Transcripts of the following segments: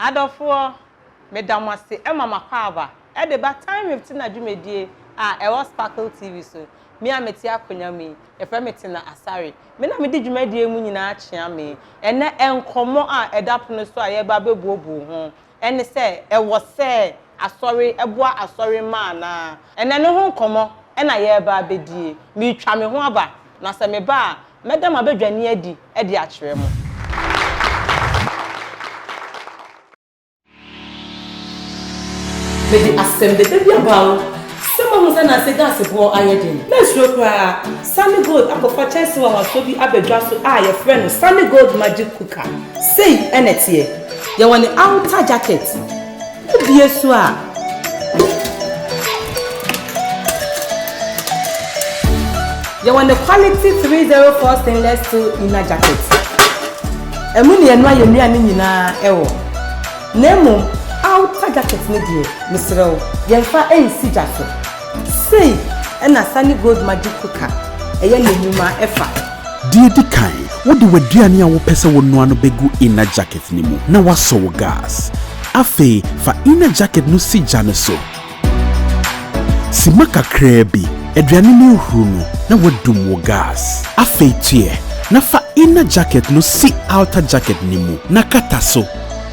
Adɔfoɔ, meda mo ase ma mo akwaaba de ba Time with Tina dwumadie a ɛwɔ Sparkle TV so. Me a mete akonwa mu yi, yɛfrɛ me Tina Asare. Me na medi dwumadie mu nyinaa kyeame. Ɛnnɛ nkɔmmɔ a ɛda pono so a yɛreba abɛbuobuo ho ne sɛ, Ɛwɔ sɛ Asɔre boa Asɔre mma anaa? Ɛnnɛ ne ho nkɔmmɔ na yɛreba abɛdie. Meretwa me ho aba, na sɛ meba a, Mɛda m'abadwani adi de akyerɛ mo. Mede asɛm dɛdɛ bi ama wo, sɛ moahu sɛ nnansa gaase boɔ ayɛ den. Mansuro koraa, Sunny Gold akɔfa kyɛnsee nwanwasoɔ bi aba dwa so a yɛfrɛ no Sunny Gold Magic Cooker. Sei na ɛteɛ. Yɛwɔ ne outer jacket. Wobue so a. Yɛwɔ ne quality three zero four stainless steel inner jacket. Ɛmu na yɛnoa yɛn nnuane nyinaa wɔ. Na mmom outer jacket no deɛ, mesrɛ wo, yɛmfa nsi gya so. Sei na Sani Gold Magic Cooker yɛ n'enwuma fa. Deɛ edi kan, wode w'aduane a wopɛ sɛ wonoa no begu inner jacket no mu na woasɔ wo gas. Afei fa inner jacket no si gya no so. Simma kakraa bi, aduane no ahuru no na woadum wo gas. Afei tuɛ na fa inner jacket no si outer jacket no mu na kata so.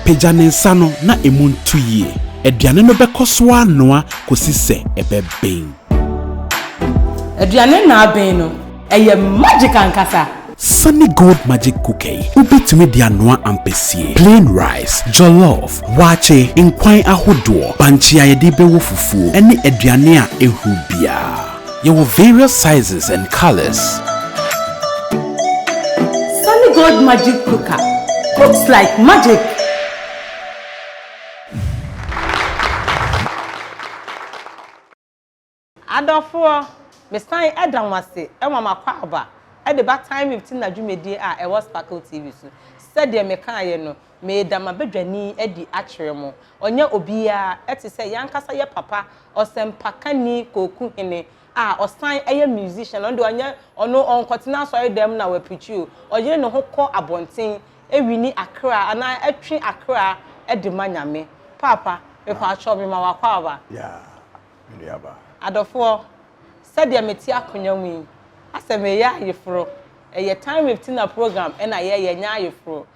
Pagya ne nsa no na emu ntu yie. Aduane no bɛkɔ so ara anoa kɔsi sɛ ɛbɛben. Aduane no aben no, ɛyɛ magic ankasa! Sunny Gold Magic Cooker yi, wobɛtumi de anoa ampesie, plain rice, jollof, waakye, nkwan ahodoɔ, bankye a yɛde rebɛwɔ fufuo, ne aduane a ɛhuru biara. Yɛwɔ various sizes and colours. Sunny Gold Magic Cooker cooks like magic! Adɔfoɔ, mesan da mo ase ma m'akwaaba de ba Time with Tina dwumadie a ɛwɔ Sparkle TV so. Sɛdeɛ mekaaeɛ no, Meeda m'abadwani adi akyerɛ mo. Ɔnyɛ obiara, ɛte sɛ y'ankasa yɛ papa ɔsɛmpakani Kooku Hene a ɔsan yɛ musician. Ɔno deɛ ɔnyɛ, ɔno ɔnkɔtena asɔredɛm na w'apreachi o. Ɔyere ne ho kɔ abɔnten ɛwini akra anaa ɛtwe akra de ma Nyame. Paapa, mepaakyɛw me ma w'akwaaba. Yeah, me nuaba. Adɔfoɔ, sɛdeɛ mete akonwa mu yi, asɛ mereyɛ ayeforo. Ɛyɛ Time with Tina program na yɛyɛ, ɛnyɛ ayeforo.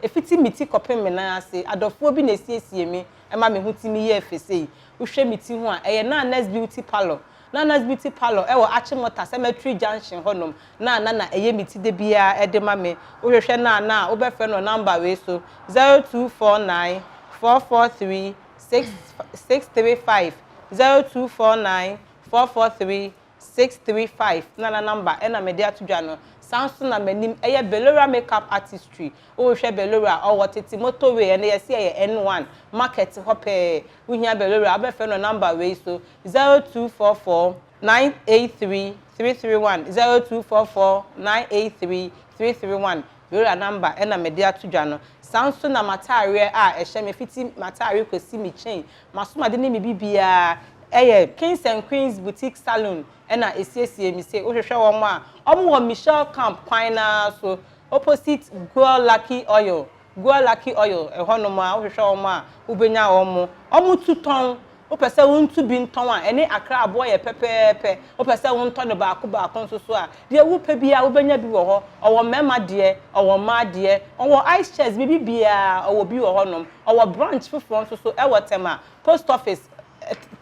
Ɛfiti me ti kɔpem me nan ase adɔfoɔ bi na ɛsiesie me ɛma me ho timi yɛ fɛ sei wohwɛ me ti ho a ɛyɛ Nana's beauty parlour Nana's beauty parlour ɛwɔ Achimota cemetery junction hɔ nom na Nana ɛyɛ me ti da biara ɛde ma me wohwehwɛ Nana a wobɛfrɛ no wɔ number wei so zero two four nine four four three six six three five zero two four nine four four three Six three five na na number ɛna mede ato dwa no saa nso na m'anim ɛyɛ Belora makeup artistry wohwɛ Belora ɔwɔ tete motor way ɛnɛ yɛse ɛyɛ N one market hɔ pɛɛ wohia Belora wobɛfrɛ no number wei so zero two four four nine eight three three three one zero two four four nine eight three three three one Belora number ɛna mede ato dwa no saa nso na m'ataareɛ a ɛhyɛ me fiti m'ataare kɔsi me chain Masom ade ne me biribiara ɛyɛ kings and queens boutique salon ɛna ɛsiesie me se wohwehwɛ wɔn a wɔn wɔ Michelle camp kwan no ara so opposite Goil lucky oil Goil lucky oil ɛhɔ nom ara wohwehwɛ wɔn a wobɛnya wɔn wɔn tu tɔn wopɛ sɛ wo ntu bi ntɔn a ɛne akra aboɔ yɛ pɛpɛɛpɛ wopɛ sɛ wo ntɔ no baako baako nso so a deɛ wo pɛ biara wobɛnya bi wɔ hɔ ɔwɔ mmarima deɛ ɔwɔ mmaa deɛ wɔn wɔ ice chest biribiara ɔwɔ bi wɔ hɔ nom Ɔwɔ branch foforɔ nso so wɔ Tema post office,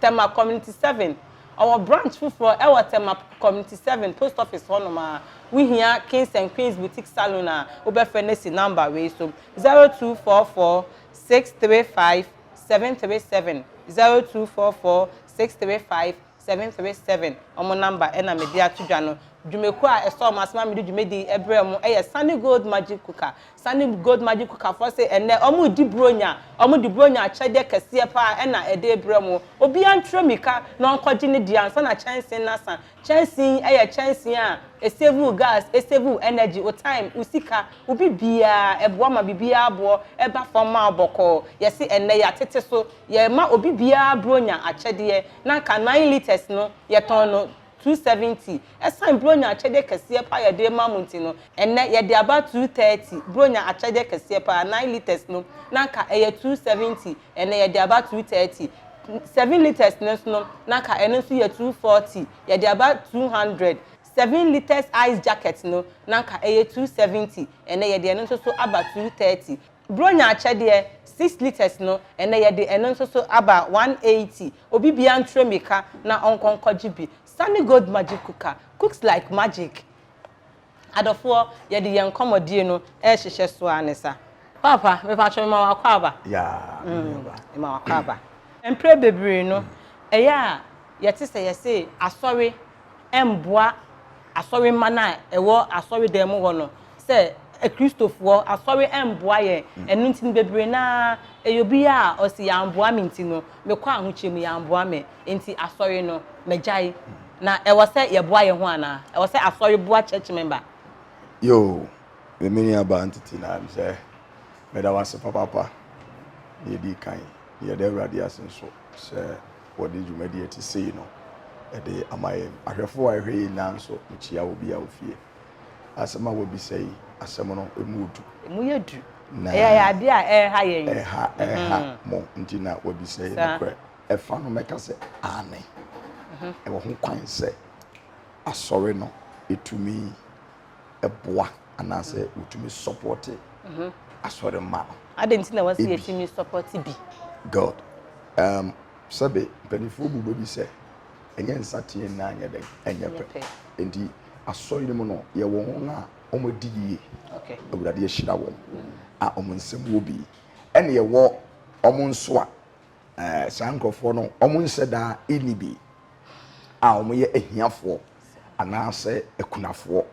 Tema community seven. Ɔwɔ branch foforɔ wɔ Tema community seven post office hɔ nom a. Wo hia Kings and Queens boutique salon a, wo bɛ frɛ no asi number wei so, zero two four four six three five seven three seven, zero two four four six three five 737 wɔn number na mede ato dwa no. Dwumakuo a ɛsɔɔ wɔn ase ma mede dwumadi brɛɛ wɔn yɛ Sunny Gold Magic Cooker. Sunny Gold Magic Cooker foɔ se ɛnnɛ wɔredi Buronya. Wɔde Buronya akyɛdeɛ kɛseɛ pa ara na ɛde rebrɛ mo. Obiara ntu ammirika na ɔnkɔgye ne deɛ ansa na kyɛnsee no asa. Kyɛnsee yi yɛ kyɛnsee a ɛsave wo gas, ɛsave wo energy, wo time, wo sika, wo biribiara. Ɛboa ma biribiara boɔ ba fam ma wo bɔkɔɔ. Yɛse ɛnnɛ yɛatete so Yɛma obi biara Buronya akyɛdeɛ, na anka nine litres no, yɛtɔn no two seventy. Ɛsiane Buronya akyɛdeɛ kɛseɛ pa ara a yɛde rema mo nti no, ɛnnɛ yɛde aba two thirty. Buronya akyɛdeɛ kɛseɛ pa ara, nine litres no, na anka ɛyɛ two seventy, ɛnnɛ yɛde aba two thirty. Seven litres no nso no, na anka ɛno nso yɛ two forty, yɛde aba two hundred. Seven litres ice jacket no, na anka ɛyɛ two seventy, ɛnnɛ yɛde ɛno nso so aba two thirty. Bronya akyɛdeɛ, six litres no, ɛnnɛ yɛde ɛno nso so aba one eighty. Obi biara ntrɛ mirika na ɔnkɔ nkɔgye bi. Sunny Gold Magic Cooker, cooks like magic. Adɔfoɔ, yɛde yɛn nkɔmmɔdie no rehyehyɛ so ara ne sa. Paapa, mepakyɛ mema w'akwaaba. Yaa, me nuaba. Mema w'akwaaba. Mprɛ bebree no, ɛyɛ a yɛte sɛ yɛse asɔre mboa asɔremma no a ɛwɔ asɔredan mu hɔ no sɛ Akristofoɔ, asɔre mboa yɛn. Mm. Ɛno nti no bebree no ara ɛyɛ obi a ɔse yɛamboa me nti no mekɔ ahokyerɛ mu yɛamboa me nti asɔre no magyae. Mm. Na ɛwɔ sɛ yɛboa yɛn ho anaa? Ɛwɔ sɛ asɔre boa church member? Yoo, me me nuabaa ntete na m sɛ meda wo ase papaapa. Deɛ ɛdi kan, yɛda Awurade ase nso sɛ wɔde dwumadi a ɛte sei no de ama yɛn. Ahwɛfo a ɛhwɛ yɛn nyinaa nso kyia obi a ofie. Asɛm a wɔabisa yi, asɛm no emu yɛ du. Emu yɛ du. Na ɛyɛ ade a ɛreha yɛn. Ɛha ɛha mo nti na wɔabisa yi nokorɛ. Ɛfa no mɛka sɛ aane. Ɛwɔ ho kwan sɛ asɔre no tumi. boa anaasɛ wotumi sɔpɔte mhm. asɔre mma no. Adɛn nti na wɔsi yɛtumi sɔpɔte bi? God um, sɛbe mpanimfoɔ bu bɛ bi sɛ ɛnyɛ nsateɛ nna anyɛ dɛn ɛnyɛ pɛ nti asɔre no mu no yɛwɔ wɔn a wɔadi yie awurade ahyira wɔn a wɔn nsɛm wɔ bi ɛne yɛwɔ wɔn nso a ɛɛ saa nkurɔfoɔ no wɔn nhyɛ daa ɛni bi a wɔyɛ ahiafoɔ anaasɛ akunafoɔ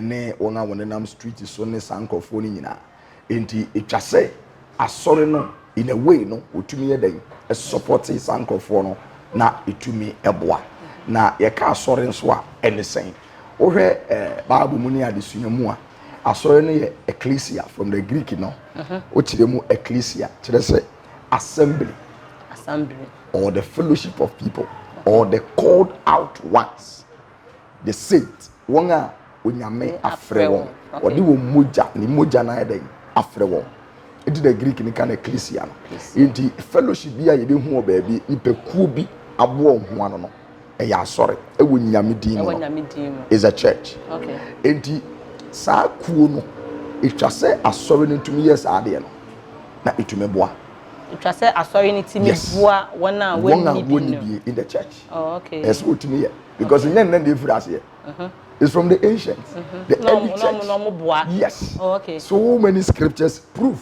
ne wɔn a wɔnenam street so ne saa nkurɔfoɔ no nyinaa. Enti ɛtwa sɛ asɔre no in a way no wɔtumi yɛ dɛn sɔpɔte saa nkurɔfoɔ no na ɛtumi boa. Na yɛka asɔre nso a ɛne sɛn? Wohwɛ eh, Bible mu ne adesua mu a asɔre no yɛ ecclesia from the Greek no, wokyerɛ mu ecclesia kyerɛ sɛ Assembly. Assembly. Or the fellowship of people. Okay. Or the called out ones. The saints. Wɔn a onyame afrɛ wɔn. Wɔde wɔn mogya ne mogya na ayɛ dɛ afrɛ wɔn. Eti na Greek ne ka na ecclesia no. Eti fellowship bi a yɛbɛhu wɔ baabi nipakuo bi aboɔ ho ano no. ɛyɛ asɔre ɛwɔ nyame din mu no is a church enti saa kuo no ɛtwa sɛ asɔre no tumi yɛ saa adeɛ no na ɛtumi boa ɛtwa sɛ asɔre no tumi boa wɔn a wɔnni bi in the church oh, okay. ɛsɛ wɔtumi yɛ because ɛnyɛ nnɛ na ɛfiri aseɛ uh-huh. It's from the ancients, mm-hmm. the no, early no, church. No, no, yes. Oh, okay. So many scriptures prove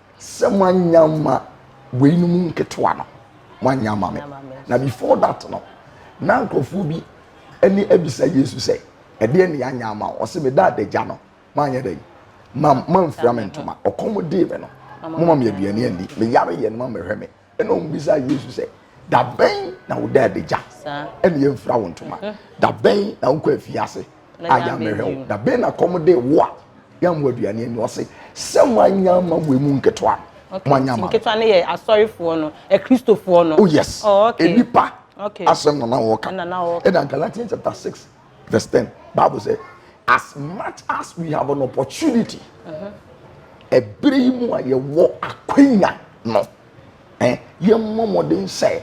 sɛ moanya ma weinom nketewa no moanya ma me na before that no na nkurɔfoɔ bi ne abisa yesu sɛ ɛdeɛ ne yɛanya ama wo ɔse meda adagya no moanyɛ dɛn mamfira me ntoma ɔkɔm dee me no moma me aduane ani meyare yɛ no ma mehwɛ me ɛna wɔn bisa yesu sɛ dabɛn na wo dan bɛgya ɛna yɛn fira wo ntoma mhm. dabɛn na wokɔ afiase a yɛamɛhwɛ wo dabɛn na kɔm de wo a yɛammɔ aduane ani ɔse sɛ moanya ma wei mu nketewa moanya ma nketewa no yɛ asɔrefoɔ no akristofoɔ no oh yes oh, okay. nipa okay. asɛm na na wɔka ɛna galatians chapter six Verse ten, Bible sɛ, as much as we have an opportunity, ɛbere yi mu a yɛwɔ akwanya no, eh, yɛmmɔ mmɔden sɛ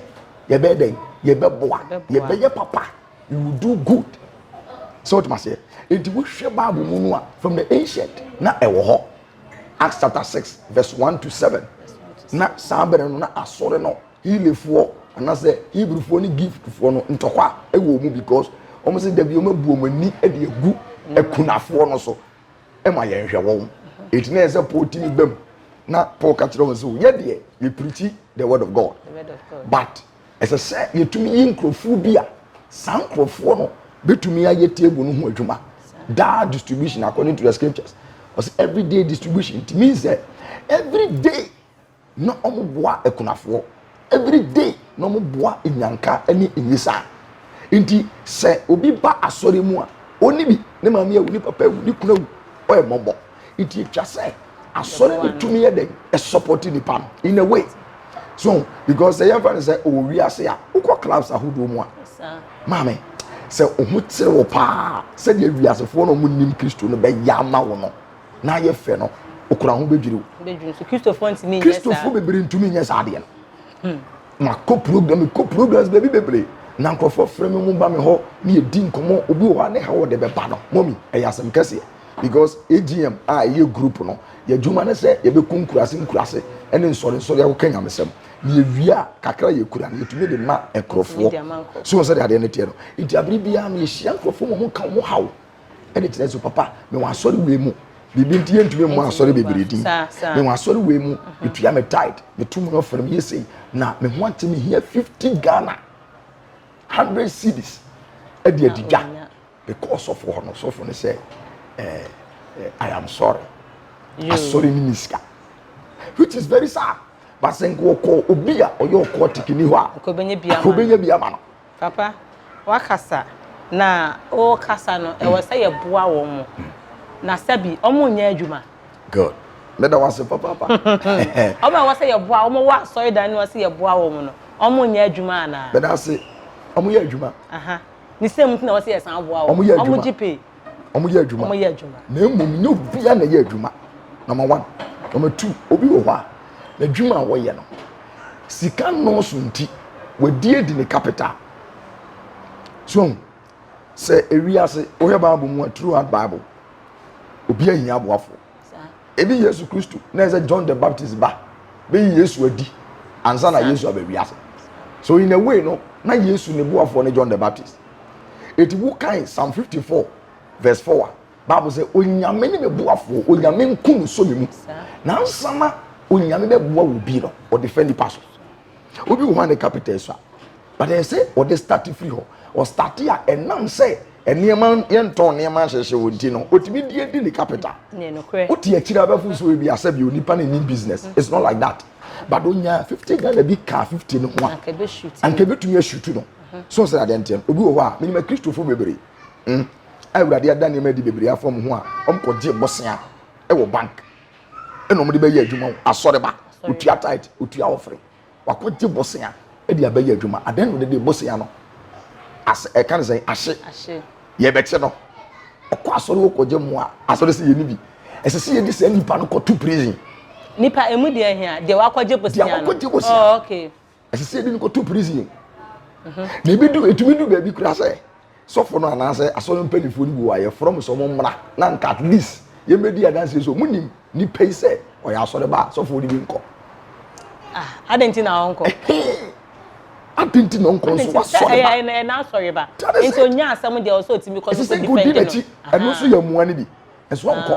yɛbɛyɛ dɛn, yɛbɛboa, yɛbɛyɛ papa, you will do good. Sɛ wotuma seɛ, enti wohwɛ Bible mu no a, from the ancient na ɛwɔ hɔ. Acts chapter six verse one to seven. Na saa bere no na asɔre no Helefoɔ anaasɛ Hebrewfoɔ ne Greekfoɔ no ntɔkwa wɔ mu because wɔn sɛ dabi wɔn abu wɔn ani de agu akunafoɔ no so ma yɛnhwɛ wɔn eti na yɛ sɛ Paul ti mi bɛm na Paul ka kyerɛ wɔn sɛ yɛ deɛ yɛ pirikyi the word of God but ɛsɛ sɛ yɛtumi yi nkurɔfoɔ bi a saa nkurɔfoɔ no bɛtumi ayɛ table no ho adwuma daa distribution according to the scriptures ɔsɛ everyday distribution it means that every day Na ɔmo boa akunafoɔ everyday na ɔmo boa nnyanka ne nyisaa nti sɛ obi ba asɔre mu a ɔnni bi ne maame awu ne papa awu ne kunu awu ɔyɛ mmɔbɔ nti etwa sɛ asɔre no tumi yɛ dɛn ɛsupporti nipa no in a way so because sɛ yɛmfa no sɛ ɔwɔ wiase a wokɔ clubs ahodoɔ mu a maame sɛ ɔho kyere wo paa sɛdeɛ wiasefoɔ na ɔmo nim kristo no bɛyɛ ama wo no na ayɛ fɛ no okura ho bɛdwiri wo kristofoɔ ntumi nyɛ saa kristofoɔ bebree ntumi nyɛ saa adeɛ no hmm. makɔ program mekɔ programs baabi bebree na nkurɔfoɔ frɛ me mu ba me hɔ ne yɛdi nkɔmmɔ obi wɔ hɔ a ne ha wɔde bɛba no mɔmi ɛyɛ asɛm kɛseɛ because agm a ɛyɛ group no yɛadwuma no sɛ yɛbɛkɔ nkurase nkurase ɛne nsɔrensɔre a wɔka nyamesɛm na yɛwie a kakra yɛkura no yɛtumi de ma nkurɔfoɔ so wɔ sɛdeɛ adeɛ no teɛ no nti abere biara no yɛhyia nkurɔfoɔ mu ɔmo ka ɔmo haw ɛde kyerɛ so papa mewɔ asɔre wei mu biribi nti yɛntumi mmɔ asɔre bebree din mewɔ asɔre wei mu mhm. metua me tide meto mu ɔfrɛ meyɛ sei na me ho ate mehia 50 ghana 100 cities ɛde adidwa mekɔɔ sɔfo hɔ no sɔfo no sɛ eh, eh, i am sorry asɔre ne me sika which is very sad basɛ nkɔkɔ obi a ɔyɛ ɔkɔɔ tekini hɔ a akɔbɛnya bi ama no Papa, woakasa, na worekasa no, ɛwɔ sɛ yɛboa wɔn, na sɛbi wɔnyɛ adwuma. Good. Meda wo ase papaapa. Wɔn a ɛwɔ sɛ yɛboa wɔn wɔ asɔredan no ase yɛboa wɔn no, wɔnyɛ adwuma anaa? Meda ase, wɔyɛ adwuma. Aha. Ne sɛ mu nti na ɛwɔ sɛ yɛsan boa wɔn. Wɔyɛ adwuma. Wɔgye pay. wɔyɛ adwuma wɔyɛ adwuma na mmom nyɛ obiara na ɛyɛ adwuma number one number two obi wɔ hɔ a n'adwuma a wɔyɛ no sika nnɔɔso nti wɔadi adi ne capital so sɛ ewi ase wɔyɛ bible mu a throughout bible obi ahia aboafo ebi yesu kristo na ɛsɛ john the baptist ba bɛyi yesu adi ansa na yesu aba wi ase so in a way no na yesu ne boafoɔ ne john the baptist eti wo kan psalm fifty four verse four a baabu sɛ onyame ne me boafoɔ onyame nku no so me mu na nsana onyame bɛ boa wo bi no ɔde fɛ nipa so obi wɔ hɔ a ne capital so a but ɛsɛ ɔde start firi hɔ ɔstarte a ɛnam sɛ nneɛma yɛntɔn nneɛma nhyehyɛ wɔ nti no otumi di edi ne capital wote akyiri abɛfo so ebi asɛ bi onipa ne ni business it's not like that but onya fifty ghana bi ka fifty no ho a anka ebetumi asutu no. So sɛ adeɛ nteɛ no, obi wɔ hɔ a, menim Akristofoɔ bebree mm, a Awurade ada nneɛma adi bebree afa wɔn ho a wɔkɔgye bosea wɔ bank ɛna wɔde bɛyɛ adwuma wɔ asɔreba, otua tait, otua ɔfere, wakɔgye bosea de abɛyɛ adwuma. Adan no de bosea no as ɛka ne sɛ ahye, yɛbɛkye no, ɔkɔ asɔre hɔ kɔgye mmoa, asɔre sɛ yɛni bi. Ɛsɛ sɛ yɛde saa nipa no kɔto prison. Nipa emu deɛ hia, deɛ wakɔgye bosea no. Deɛ wakɔgye bosea. Oh, okay. ɛsɛ sɛ ebi no kɔto prison na ebi du etumi du baabi kura sɛ sɔfo no anaasɛ asɔre mpanyinfoɔ no bi wɔ a yɛfrɛ mo sɛ ɔmo mmra na nka at least yɛbɛdi adanseɛ so ɔmo nim nipa yi sɛ ɔyɛ asɔre ba a sɔfo no bi nkɔ. Ah, adɛn nti na ɔnkɔ adi nti na ɔnkɔ nso wasɔre ba ɛyɛ n'asɔre ba nti onnya asɛm deɛ ɔsɛ otumi kɔ no so defend no ɛsɛ sɛ odi n'akyi ɛno nso yɛ mmoa no bi ɛso ɔnkɔ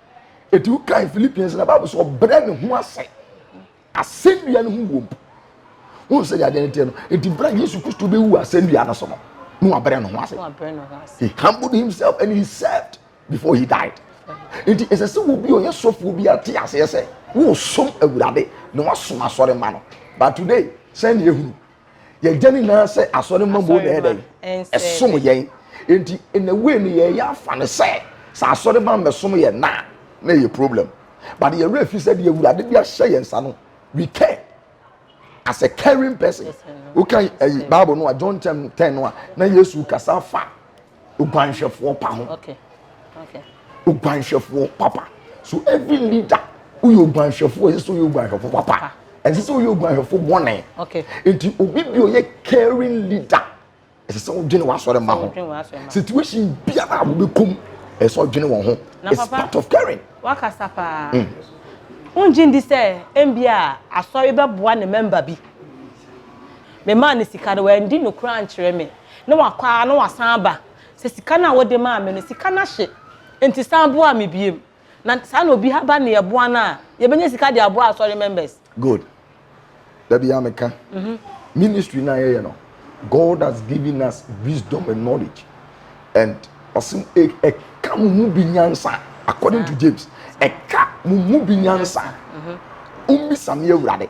eti wokan philippians na bible sɛ ɔbrɛ ne ho ase asɛnnua no ho wom wohu sɛ yadeɛ no teɛ no enti berɛ a yesu kristo bɛwu asɛnnua no so no na wabrɛ ne ho ase he humbled himself and he served before he died nti ɛsɛ sɛ wo bi ɔyɛ sɔfoɔ bi ate aseɛ sɛ wosom awurade na wasom asɔre ma no but today sɛne ɛhunu yɛgya ne nyinaa sɛ asɔre mma mu na ɛdɛ ɛsom yɛn nti na wei no yɛyɛ afa no sɛ sɛ asɔre ma mmɛsom yɛn na na ɛyɛ problem but yɛwerɛ fi sɛ deɛ awurade de ahyɛ yɛn nsa no we care as a caring person woka ayi bible no a john ten ten no a na yesu kasa fa oguanhwɛfoɔ pa ho okay. Okay. oguanhwɛfoɔ papa so every leader woyɛ oguanhwɛfoɔ ɛsɛ sɛ woyɛ oguanhwɛfoɔ papa ɛsɛ sɛ woyɛ oguanhwɛfoɔ bɔne nti obi bi ɔyɛ caring leader ɛsɛ sɛ wodwene w'asɔre ma ho situation biara a wobɛkɔm ɛsɛ sɛ wodwene wɔn ho it's part of caring wakasa paa mm. wongye ndi sɛ ɛmbi a asɔre bɛboa ne mɛmba bi memaa ne sika no wandi nokora ankyerɛ me na wakɔ ara na wasan aba sɛ sika no a wode maa me no sika no ahye nti san boa me biem na saa na obi haba ne yɛboa no a yɛbɛnya sika de aboa asɔre members. Good. Da biara meka ministry no a yɛyɛ no God has given us wisdom and knowledge and ɔse ɛka mo mu bi nyansa according to James ɛka mo mu bi nyansa wommisa me awurade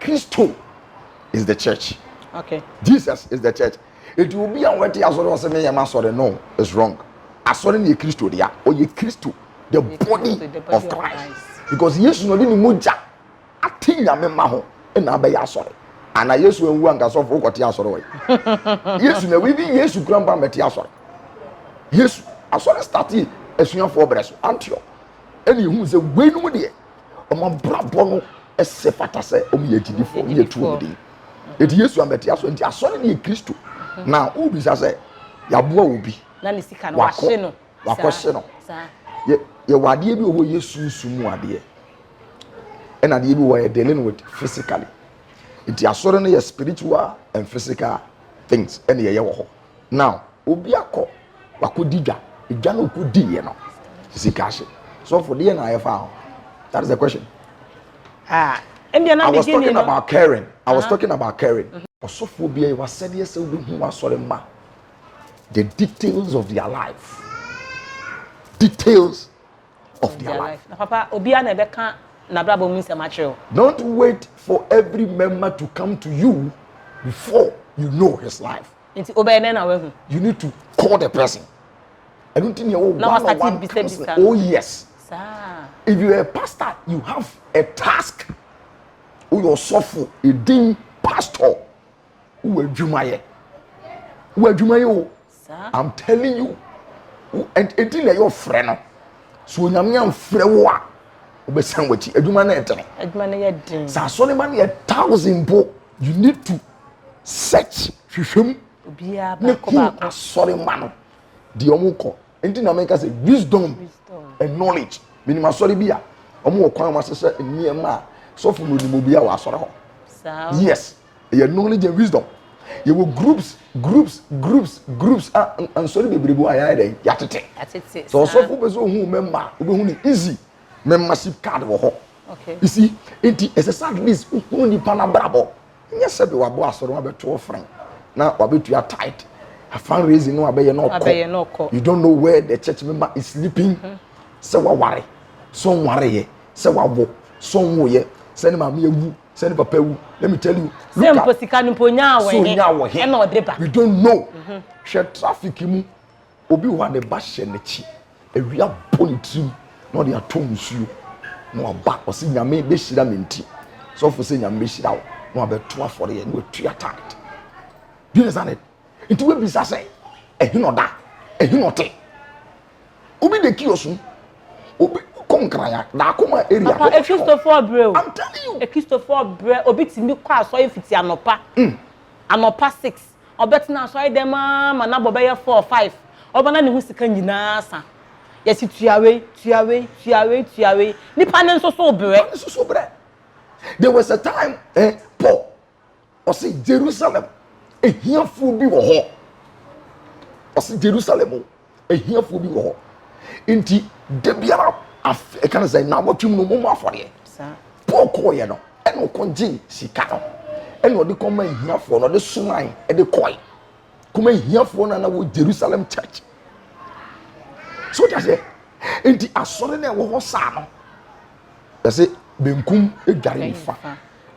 Kristo is the church. Okay. Jesus is the church. Eti obi a wɔte asɔre ɔsɛ meyɛ ma asɔre no is wrong. Asɔre no yɛ Kristo dea. Ɔyɛ Kristo the body of Christ. Because Yesu na ɔde ne mogya ate nyame ma ho na abɛyɛ asɔre. Ana Yesu anwu anka sɔfo kɔte asɔre wɔ yi. Yesu na wibi Yesu kura mpa mɛte asɔre. Yesu asɔre starte asuafoɔ brɛ so Antioch. Ɛna ehu sɛ wei no mu deɛ wɔn abrabɔ no ɛsɛ fata sɛ wɔn yɛ agyidifoɔ wɔn yɛ tu wɔn din eti yesu amɛte aso nti asɔre ne yɛ kristo mhm. na wobisa sɛ yaboa obi wakɔ wakɔ hye no yɛwɔ adeɛ bi wɔ hɔ yɛ sunsun mu adeɛ ɛna adeɛ bi wɔ yɛ dealing with physically nti asɔre no yɛ spiritual and physical things ɛna yɛyɛ wɔ hɔ Now obi akɔ wakɔdi dwa dwa no ɔkɔdiiɛ no sika ahye sɔfo deɛ na ayɛ faa ho that is the question ah, I was talking no. about caring I was uh -huh. talking about caring mm -hmm. ɔsɔfoɔ biara wasɛdeɛ sɛ wobɛhu asɔre ma the details of their life details of their life. Na papa, obiara na ɛbɛka n'abrabɔ mu nsɛm akyerɛ o. Don't wait for every member to come to you before you know his life. Nti o bɛyɛ dɛn na wahu? You need to call the person. Ɛnu ti ni ɛwɔ one on one counseling. Oh yes. Saa. If you are a pastor, you have a task. O yɛ ɔsɔfo, edin pastor, o wɔ adwuma yɛ, o wɔ adwuma yɛ o. I'm telling you ɛdi na ɛyɛ ɔfrɛ no so onyame amfrɛ wo a wobɛsan wakyi adwuma no ɛdene adwuma no yɛ den sɛ asɔre ma no yɛ thousand po you need to search hwehwɛ mu ne hu asɔre ma no deɛ ɔmo kɔ nti na meka sɛ wisdom and knowledge menim asɔre bi a ɔmo wɔ kwan wɔn asesɛ nneɛma a sɔfo no onim obi a wɔ asɔre hɔ yes Yɛ knowledge and wisdom. Yɛ wɔ groups groups groups groups a nsɔre bebree bi wɔ a yɛ ayɛ dɛ yɛ atete. Atete. So ɔsɔfo bɛ sɛ ohun mɛ mma obɛ hu ne easy membership card wɔ hɔ. Okay. You see, eti ɛsɛ sɛ at least ohun nipa n'abrabɔ. Nyɛ sɛ bi wabɔ asɔre wɔn abɛto ɔfrɛn na wabetua tight. A fundraising no abɛyɛ na ɔkɔ. Abɛyɛ na ɔkɔ. You don't know where the church member is sleeping. Mm-hmm. Sɛ waware, sɛ ɔnware yɛ, sɛ wawo, sɛ ɔnwo yɛ, sɛ ne maame awu. sɛ ne papa wu let me tell you sɛ mpo sika no mpo nyaa wɔ he nyaa wɔ he ɛna ɔde ba we don't know mhm. hwɛ traffic mu obi wɔ a ne ba hyɛ n'akyi awia bɔ ne tirim na ɔde atɔ nsuo na waba ɔsi nyame bɛhyira me nti sɔfo sɛ nyame bɛhyira wo na wabɛto afɔre yɛ na watua tithe do you understand it nti wabisa sɛ ɛhe na ɔda ɛhe na ɔte Obi de kiosk mu. Obi kɔ nkraya. Daako ma area. Papa ekristofoɔ brɛ o. I'm telling you. Ekristofoɔ brɛ. Obi tumi kɔ asɔre fiti anɔpa. Mm. Anɔpa six. Ɔbɛtena asɔre dɛm aa ma n'abɔ bɛyɛ four five. Ɔba na ne ho sika nyinaa sa. Yɛsi tua wei, tua wei, tua wei, tua wei. Nipa ne nso so brɛ. Nipa ne nso so brɛ. There was a time eh, Paul. Ɔsi Jerusalem ehiafoɔ bi wɔ hɔ ɔsi Jerusalem o ehiafoɔ bi wɔ hɔ nti da biara afe ɛka ne sɛ na awɔtwem no mɔmɔ afɔdeɛ Paul kɔɔyɛ no ɛna ɔkɔ gye sika no ɛna ɔde kɔma ehiafoɔ na ɔde somae ɛde kɔe kɔma ehiafoɔ na na wɔ Jerusalem church so ɔde aseɛ nti asɔre na ɛwɔ hɔ saa no yɛsɛ benkum edware nifa.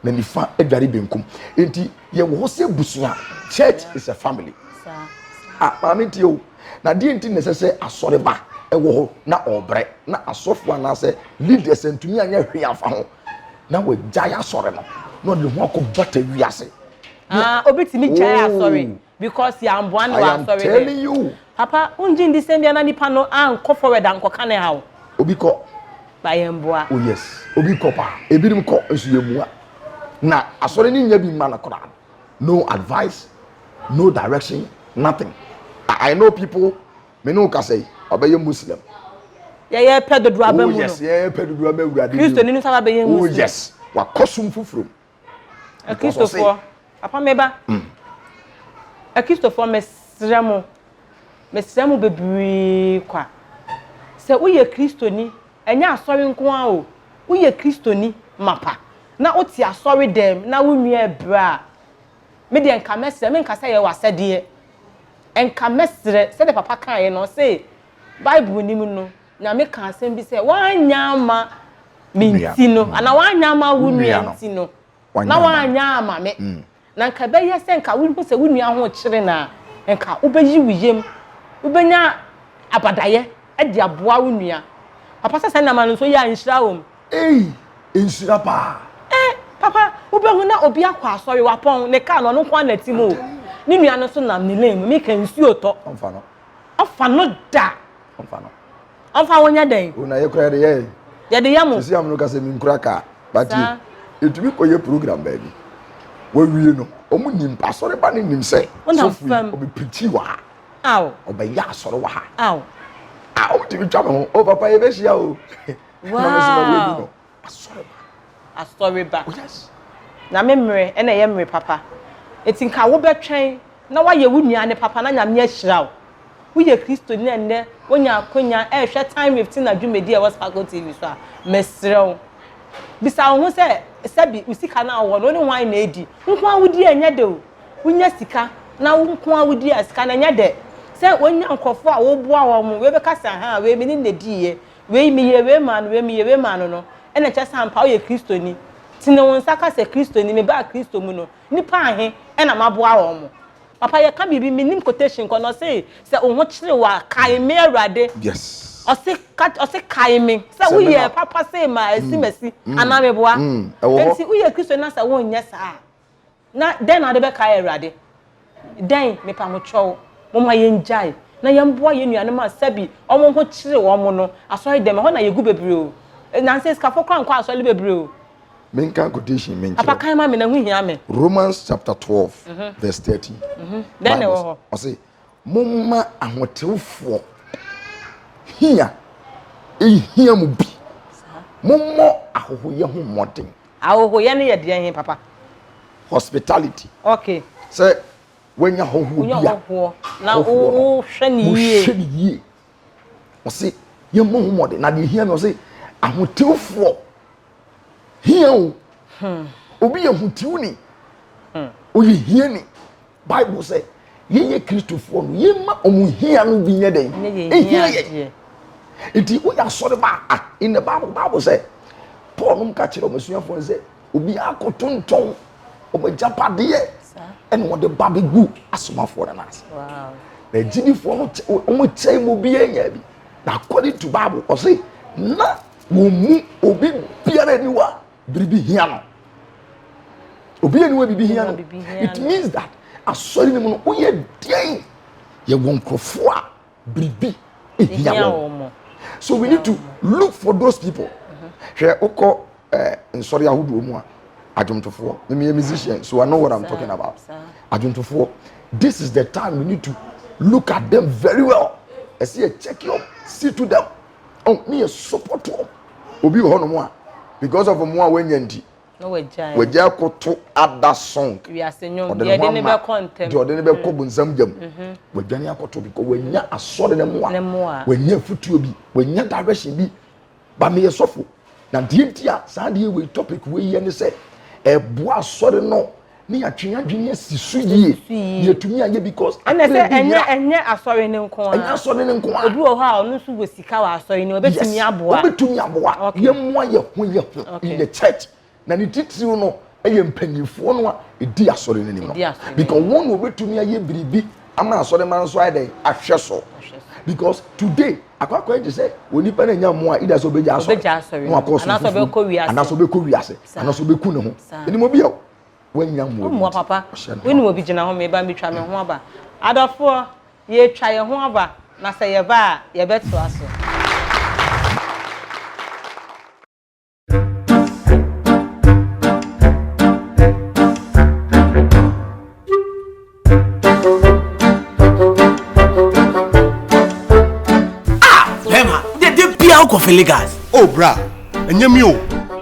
na nifa adware benkum nti yɛwɔ hɔ sɛ abusua church is a family ah maame nti o na deɛ nti na ɛsɛ sɛ asɔreba ɛwɔ hɔ na ɔbrɛ na asɔfo anaasɛ leaders ntumi anyɛ hwee afa ho na wɔagyae asɔre no na ɔde ho akɔ bata wiase ah, obetumi gyae oh. asɔre Because yɛ anboa no wɔ asɔre dɛm. I am telling you. Papa, wongye ndi sɛ mbia na nipa no ankɔ forward ankɔka ne haw. Obi kɔ. Ba yɛ mboa. Oh yes, obi kɔ paa. Ebinom kɔ nso yɛ mua. Na asɔre no nya bi mma no koraa. No advice, no direction, nothing. I, I know people, me ne wo kasa yi, ɔbɛyɛ Muslim. Yɛyɛ pɛ dodo aba mu no. Oh yes, yɛyɛ pɛ dodo ama awurade. Kristo ni no sɛ ɔbɛyɛ Muslim. Oh yes, wakɔ som foforɔ mu. Akristofoɔ, papa me ba. Mm. Akristofoɔ mesrɛ mo, mesrɛ mo bebree kwa. Sɛ woyɛ Kristoni, ɛnyɛ asɔre nko ara o. Woyɛ Kristoni mapa na wote asɔre dɛm na wo nua ɛbrɛ a, me deɛ nka mɛsrɛ, me nka sɛ yɛ w'asɛdeɛ. Nka mɛsrɛ sɛdeɛ papa kaeɛ no, ɔse Bible nim no, Na meka asɛm bi sɛ, woanyɛ ama me nti no, anaa woanyɛ ama wo nua nti no, na woanyɛ ama me. Mm. Na nka ɛbɛyɛ sɛ nka wohu sɛ wo nua ho kyere no a, nka wobɛyi wo yam, wobɛnya abadayɛ de aboa wo nua. Papa sɛ saa nneɛma no nso yɛ a nhyira wɔ mu. Ei, nhyira paa. Eh, papa, wobɛhu na obi akɔ asɔre, wapɔn, ne kaa no ɔno nko ara na ti mu o. Ne nua no nso nam ne lane mu, meka nsuo tɔ. Ɔmfa no. Ɔmfa no da. Ɔmfa no. Ɔmfa wo nyɛ dɛn? O na yɛ kora yɛde yɛ. Yɛde yɛ mo. Sisi amono ka sɛ menkura kaa. Batie. Yɛtumi kɔyɛ program baabi. Wɔawie no, wɔn nim pa asɔre ba no nim sɛ. Wonam fam. Ɔbɛ pirikyi wɔ ha. Aw. Ɔbɛ yɛ asɔre wɔ ha. Aw. Ah, wɔtumi twa me ho. O papa yɛbɛhyia o. Wow. Na mesoma wɔadu no. Asɔreba. Asɔreba. Oh yes. Na me mmere na ɛyɛ mmere papa. Enti nka wobɛtwɛn na woayɛ wo nua ne papa na Nyame ahyira wo. Woyɛ Kristoni na ɛnnɛ woanya akwanya rehwɛ Time with Tina dwumadi a ɛwɔ Sparkle TV so a, mesrɛ wo, bisa wo ho sɛ, sɛbi wo sika no a wowɔ no, wo ne hwan na edi? Wo nko ara wudi a ɛnyɛ dɛ o. Wonya sika na wo nko ara wudi a, sika no ɛnyɛ dɛ. Sɛ wonya nkurɔfo a woboa wɔn, wei bɛka sɛ, Ahaa, wei me ne no na ediiɛ. Wei, meyɛɛ wei maa no, wei, meyɛɛ wei maa no no, ɛnna ɛkyerɛ sɛ ampa woyɛ Kristoni. Tene wo nsa ka sɛ, Kristoni, mebaa Kristo mu no, nnipa ahe na maboa wɔn? Papa, yɛka biribi, mennim quotation kɔ no, ɔse, Sɛ wo ho kyere wo a, kae me, Awurade. Yes. Ɔse, ka, ɔse, kae me sɛ woyɛɛ papa sei maa asi masi, anaa meboa? Enti woyɛ Kristoni na sɛ wonyɛ saa a, Na dɛn na wode bɛkae Awurade? Dɛn? Mepamokyɛw, momma yengyae na yɛmmoa yɛn nuanom a sɛbi wɔn ho kyere wɔn no. Asɔredɛm, ɛhɔ na yegu bebree o. Nnansa yi, sikafo koraa nkɔ asɔre bebree o. Menka quotation menkyerɛ wo. Papa kan ma me na ɛho hia me. Romans chapter twelve verse thirteen. Dɛn na ɛwɔ hɔ? Ɔse. Momma ahotewfoɔ hia nhia mo bi. Mommɔ ahohoyɛ ho mmɔden. Ahohoyɛ no yɛ deɛn he, Papa? Hospitality. Okay. Sɛ wanya hɔhoɔ bi a. Wonya hɔhoɔ na wohwɛ ne yie. Wohwɛ ne yie. Ɔse yɛmmɔ ho mmɔden na deɛ hia no ɔse ahotewfoɔ hia o. Hmm. Obi yɛ hotiwni. Hmm. Oye hiani. Bible sɛ yɛyɛ Kristofoɔ no, yɛmma wɔn hia no bi nyɛ dɛn? Ɛhia yɛn. Nti woyɛ asɔre ba a, in the Bible, Bible sɛ Paul nom ka kyerɛ wɔn asuafoɔ sɛ obiara koto ntɔn wɔn agyapadeɛ ɛna wɔde ba bɛgu asomafoɔ no nan ase. Na agyidifoɔ no wɔn kyɛn mu obiara nya bi. Na according to Bible, ɔse na wɔn mu obi biara aniwa biribi hia no obi yɛ ne wa biribi hia no it means that asɔre no mu no woyɛ deɛn yɛwɔ nkurɔfoɔ a biribi hia wɔn so we need to look for those people hwɛ wokɔ eh, nsɔre ahodoɔ mu a adwomtofoɔ meyɛ musician so i know what i'm talking about adwomtofoɔ this is the time we need to look at them very well ɛsɛ yɛ check you see to them oh ne yɛ support wɔn obi wɔ hɔnom a because of wɔn a wɔanya nti wɔagya akoto ada song ɔde ne ho ama deɛ ɔde ne bɛkɔ mm. bonsam gya mu mhm. wɔadwane akoto bi kɔ wɔanya asɔre no mu a wɔanya afutuo bi wɔanya direction bi ba meyɛ sɔfo na deɛ nti a saa deɛ wei topic wei yɛ ne sɛ ɛboa asɔre no ne yɛatwe yɛn adwene asi so yie yɛtumi ayɛ because ɛnɛ sɛ ɛnyɛ ɛnyɛ asɔre no nko a ɛnyɛ asɔre no nko a obi wɔ hɔ a ɔno nso wɔ sika wɔ asɔre no ɔbɛtumi aboa yes ɔbɛtumi aboa yɛmmoa yɛ ho yɛ ho in the church na ne titiriw no ɛyɛ mpanimfoɔ no a ɛdi asɔre no anim no because wɔn na wɔbɛtumi ayɛ biribi ama asɔre ma nso ayɛ dɛ ahwɛ so because today akwakwa gye sɛ onipa na nya mmoa ida sɛ ɔbɛgya asɔre na wakɔ so fufuo anaasɛ ɔbɛkɔ wiase anaasɛ ɔbɛku ne ho ɛnim obi a wanya mmoa mmoa papa wonim obi gyina ho meba metwa me ho aba adɔfoɔ yɛtwa yɛ ho aba na sɛ yɛba a yɛbɛtoa so Ah, bɛrima, dɛ dɛ biara wokɔ fele gas. Oh bra, ɛnyɛ me o.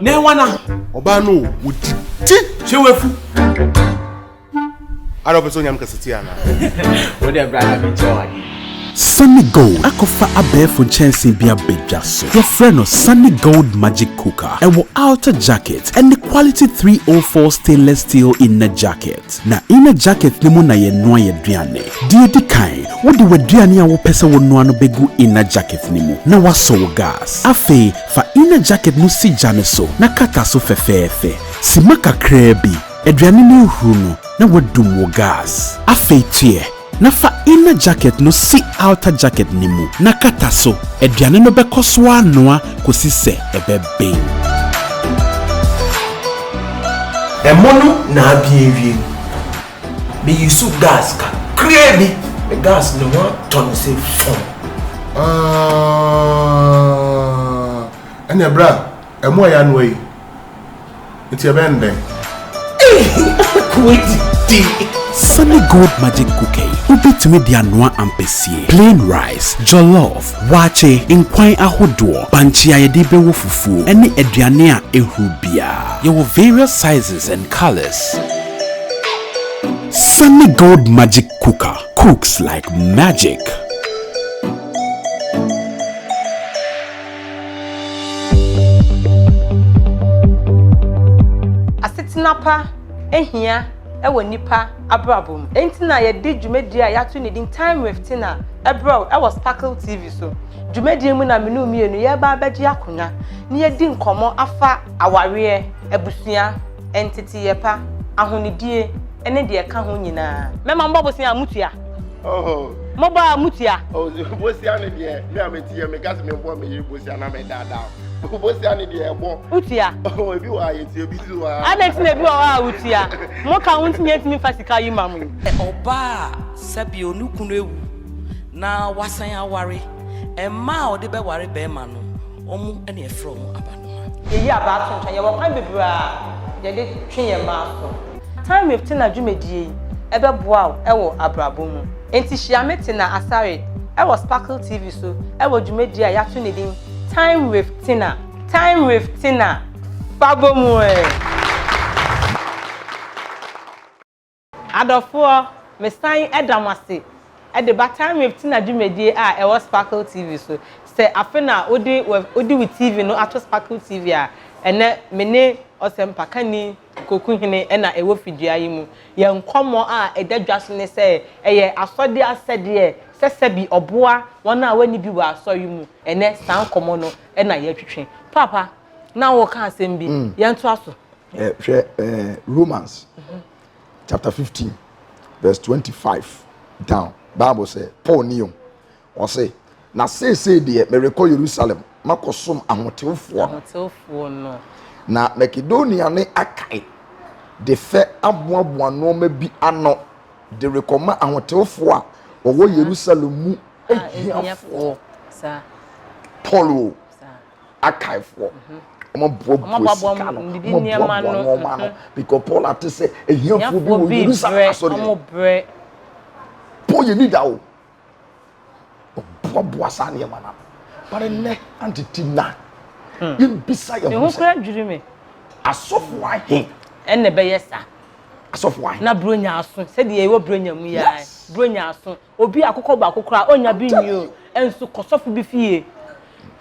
Na ɛwa na? Ɔbaa no o, wodi ti. Hyɛ wafu. Ara ɔpɛ sɛ onyam kasatia anaa? Wo dɛ bra na menkyɛ wade. Sunny Gold akɔfa abɛɛfo nkyɛnsee bi abadwa so. Wɔfrɛ no Sunny Gold Magic Cooker. Ɛwɔ outer jacket ne quality three O four stainless steel inner jacket. Na inner jacket no mu na yɛnoa yɛn aduane. Deɛ ɛdi kan, wode w'aduane a wopɛ sɛ wonoa no bɛgu inner jacket no mu na woasɔ wo gas. Afei, fa inner jacket no si gya no so na kata so fɛfɛɛfɛ. Simma kakraa bi. Aduane no ahuru no, na woadum wo gas. Afei, toɛ Na fa inner jacket no si outer jacket no mu na kata so. Aduane no bɛkɔ so anoa kosi sɛ ɛbɛben. Ɛmo no na aben awie no, me use gas kakraa bi. Me gas ne ho atɔ no sɛ fɔmm. Aah ɛneɛ bra, ɛmo a yɛanoa yi. Nti ɛbɛyɛ no dɛn? Ehi ako adidi. Sunny Gold Magic Cookie, Wobɛtumi de anoa ampesie, plain rice, jollof, waakye, nkwan ahodoɔ, bankye a yɛde bɛwɔ fufuo, ne aduane a ɛhuru biara. Yɛwɔ various sizes and colours. Sunny Gold Magic Cooker cooks like magic. Asetena pa hia wɔ nnipa abrabɔ mu. Enti na yɛde dwumadi a yɛato ne din Time with Tina brɛw wɔ Sparkle TV so. Dwumadi yi mu na me ne wo mmienu yɛreba abɛgye akonnwa na yɛadi nkɔmmɔ afa awareɛ, abusua, nteteeɛ pa, ahonidie ne deɛ ɛka ho nyinaa. Mɛma mobɔ bosea a motua. mo ba a mo tia. bosia ne deɛ me a me tia me kasi me bɔ me yiri bosia na me daadaa bosia ne deɛ ɛbɔ. o tia. ebi wɔ a yɛ tia ebi nso wɔ a. adan ti na ebi wɔ hɔ a o tia mo ka ho ntumi ntumi fa sika yi ma mo. ɔbaa sɛbi onu kunu ewu na wasan aware mmaa a ɔde bɛ ware bɛrima no ɔmo ɛna ɛfrɛ ɔmo abanoma. Yɛyi abaa to nkyɛn, yɛwɔ kwan bebree a yɛde twe yɛn mma aso. Timewave Tena dwumadie yi bɛboa wo wɔ abrabɔ mu. Enti hyia me Tena Asare wɔ Sparkle TV so wɔ dwumadie a yɛato ne din Timewave Tena, Timewave Tena, Fa Bɔ Mu eh! Adɔfoɔ, mesan da mo ase de ba Timewave Tena dwumadie a ɛwɔ Sparkle TV so. Sɛ afe no a wode wo TV no ato Sparkle TV a, ɛnnɛ me ne ɔsɛmpakani Koku hene na ɛwɔ fidua yi mu. Yɛn nkɔmmɔ a ɛda dwa so ne sɛ ɛyɛ asɔre asɛdeɛ sɛ sɛbi ɔboa wɔn a wɔnni bi wɔ asɔre mu. Ɛnnɛ, saa nkɔmmɔ no na yɛretwetwe. Paapa, na woreka asɛm bi. Yɛntoa so. Hwɛ Romans chapter fifteen verse twenty-five down. Bible sɛ, Paul ni o, Ɔse, Na seesei deɛ merekɔ Yerusalem makɔsom Ahotefoɔ no. Na Makedonia ne Akae de fɛ aboaboa nnoɔma bi ano de rekɔma Ahotefoɔ a wɔwɔ Yerusalem mu ahiafoɔ. Paul o, Akaefoɔ, wɔaboaboa sika no, wɔaboaboa nnoɔma ano, because Paul ate sɛ ahiafoɔ bi wɔ Yerusalem asɔre mu. Paul yɛ leader o. ɔboaboa saa nneɛma no ano but nnɛ antete na hmm. yɛmbisa yɛ ho sɛ dwiri me asɔfo ahe ɛna ɛbɛyɛ saa asɔfo ahe na buronya aso sɛdeɛ ɛwɔ buronya mu yɛ buronya aso obi akokɔ baako koraa ɔnya bi nyi o ɛnso kɔsɔfo bi fie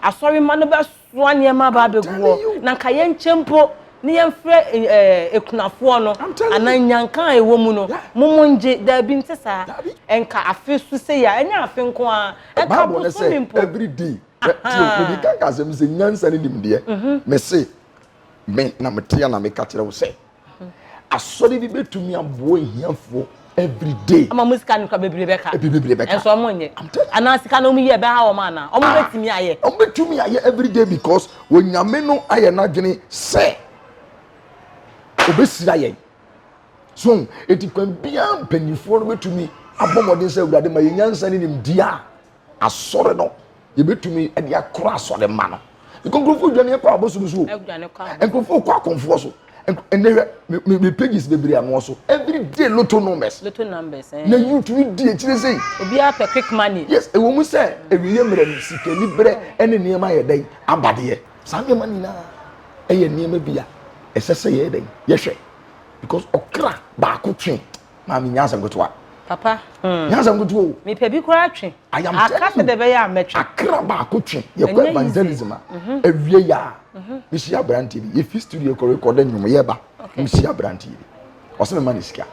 asɔre ma no bɛso Noa nneɛma aba abegu hɔ, na anka yɛnkyɛ mpo ne yɛmfrɛ akunafoɔ no, anaa nnyanka a ɛwɔ mu no, momo ngye. Daabi, nte saa. Ɛnka afe so sei a, ɛnyɛ afe nko ara, ɛnka bosome mpo. Bible no sɛ, every day. Tio, mede ka nka asɛm bi sɛ, nyansa ne nimdeɛ. Mese, Me na meteɛ na meka kyerɛ wo sɛ. Asɔre bi betumi aboa ahiafoɔ every day. Ama wɔn sika no kura bebree bɛka. Ebi bebree bɛka. Ɛnso wɔn nyɛ. I'm telling you. Anaa sika no wɔn yɛ ɛbɛha wɔn anaa? Wɔn betumi ayɛ. Wɔn betumi ayɛ every day because onyame no ayɛ n'adwene sɛ obesira yɛn. So eti kwan biara mpanyinfoɔ no betumi abɔ mmɔden sɛ awurade ma yɛn nyansa ne nimdeɛ a Asɔre no, yɛbɛtumi de akora asɔre mma no. Nkurɔfoɔ dwane kɔ abosom so. Nkurɔfoɔ kɔ akɔmfoɔ so. Ɛnɛ hwɛ me me pages bebree ano so. Every day lotto numbers. Lotto numbers. Eh. Na YouTube di akyire sɛ. Obiara pɛ quick money. Yes, ɛwɔ mu sɛ ɛwiyɛ mmerɛ no sikani berɛ ɛne nneɛma yɛ dɛn abadeɛ. Saa nneɛma nyinaa ɛyɛ nneɛma bi a ɛsɛ sɛ yɛyɛ dɛn yɛhwɛ because ɔkra baako twe. Maame nyansa nketewa. Papa. Hmm. Nyansa nketewa o. Mepɛ bi koraa twe. Aka sɛ dɛ bɛyɛ a mɛtwe. Akra baako twe. Yɛkɔ evangelism a. Mhm. Awie yɛ a. Mhm. Mehyia aberanteɛ bi. Yɛfi studio kɔ rekɔda nnwom yɛba. Mehyia aberanteɛ bi. Ɔsɛ mema ne sika.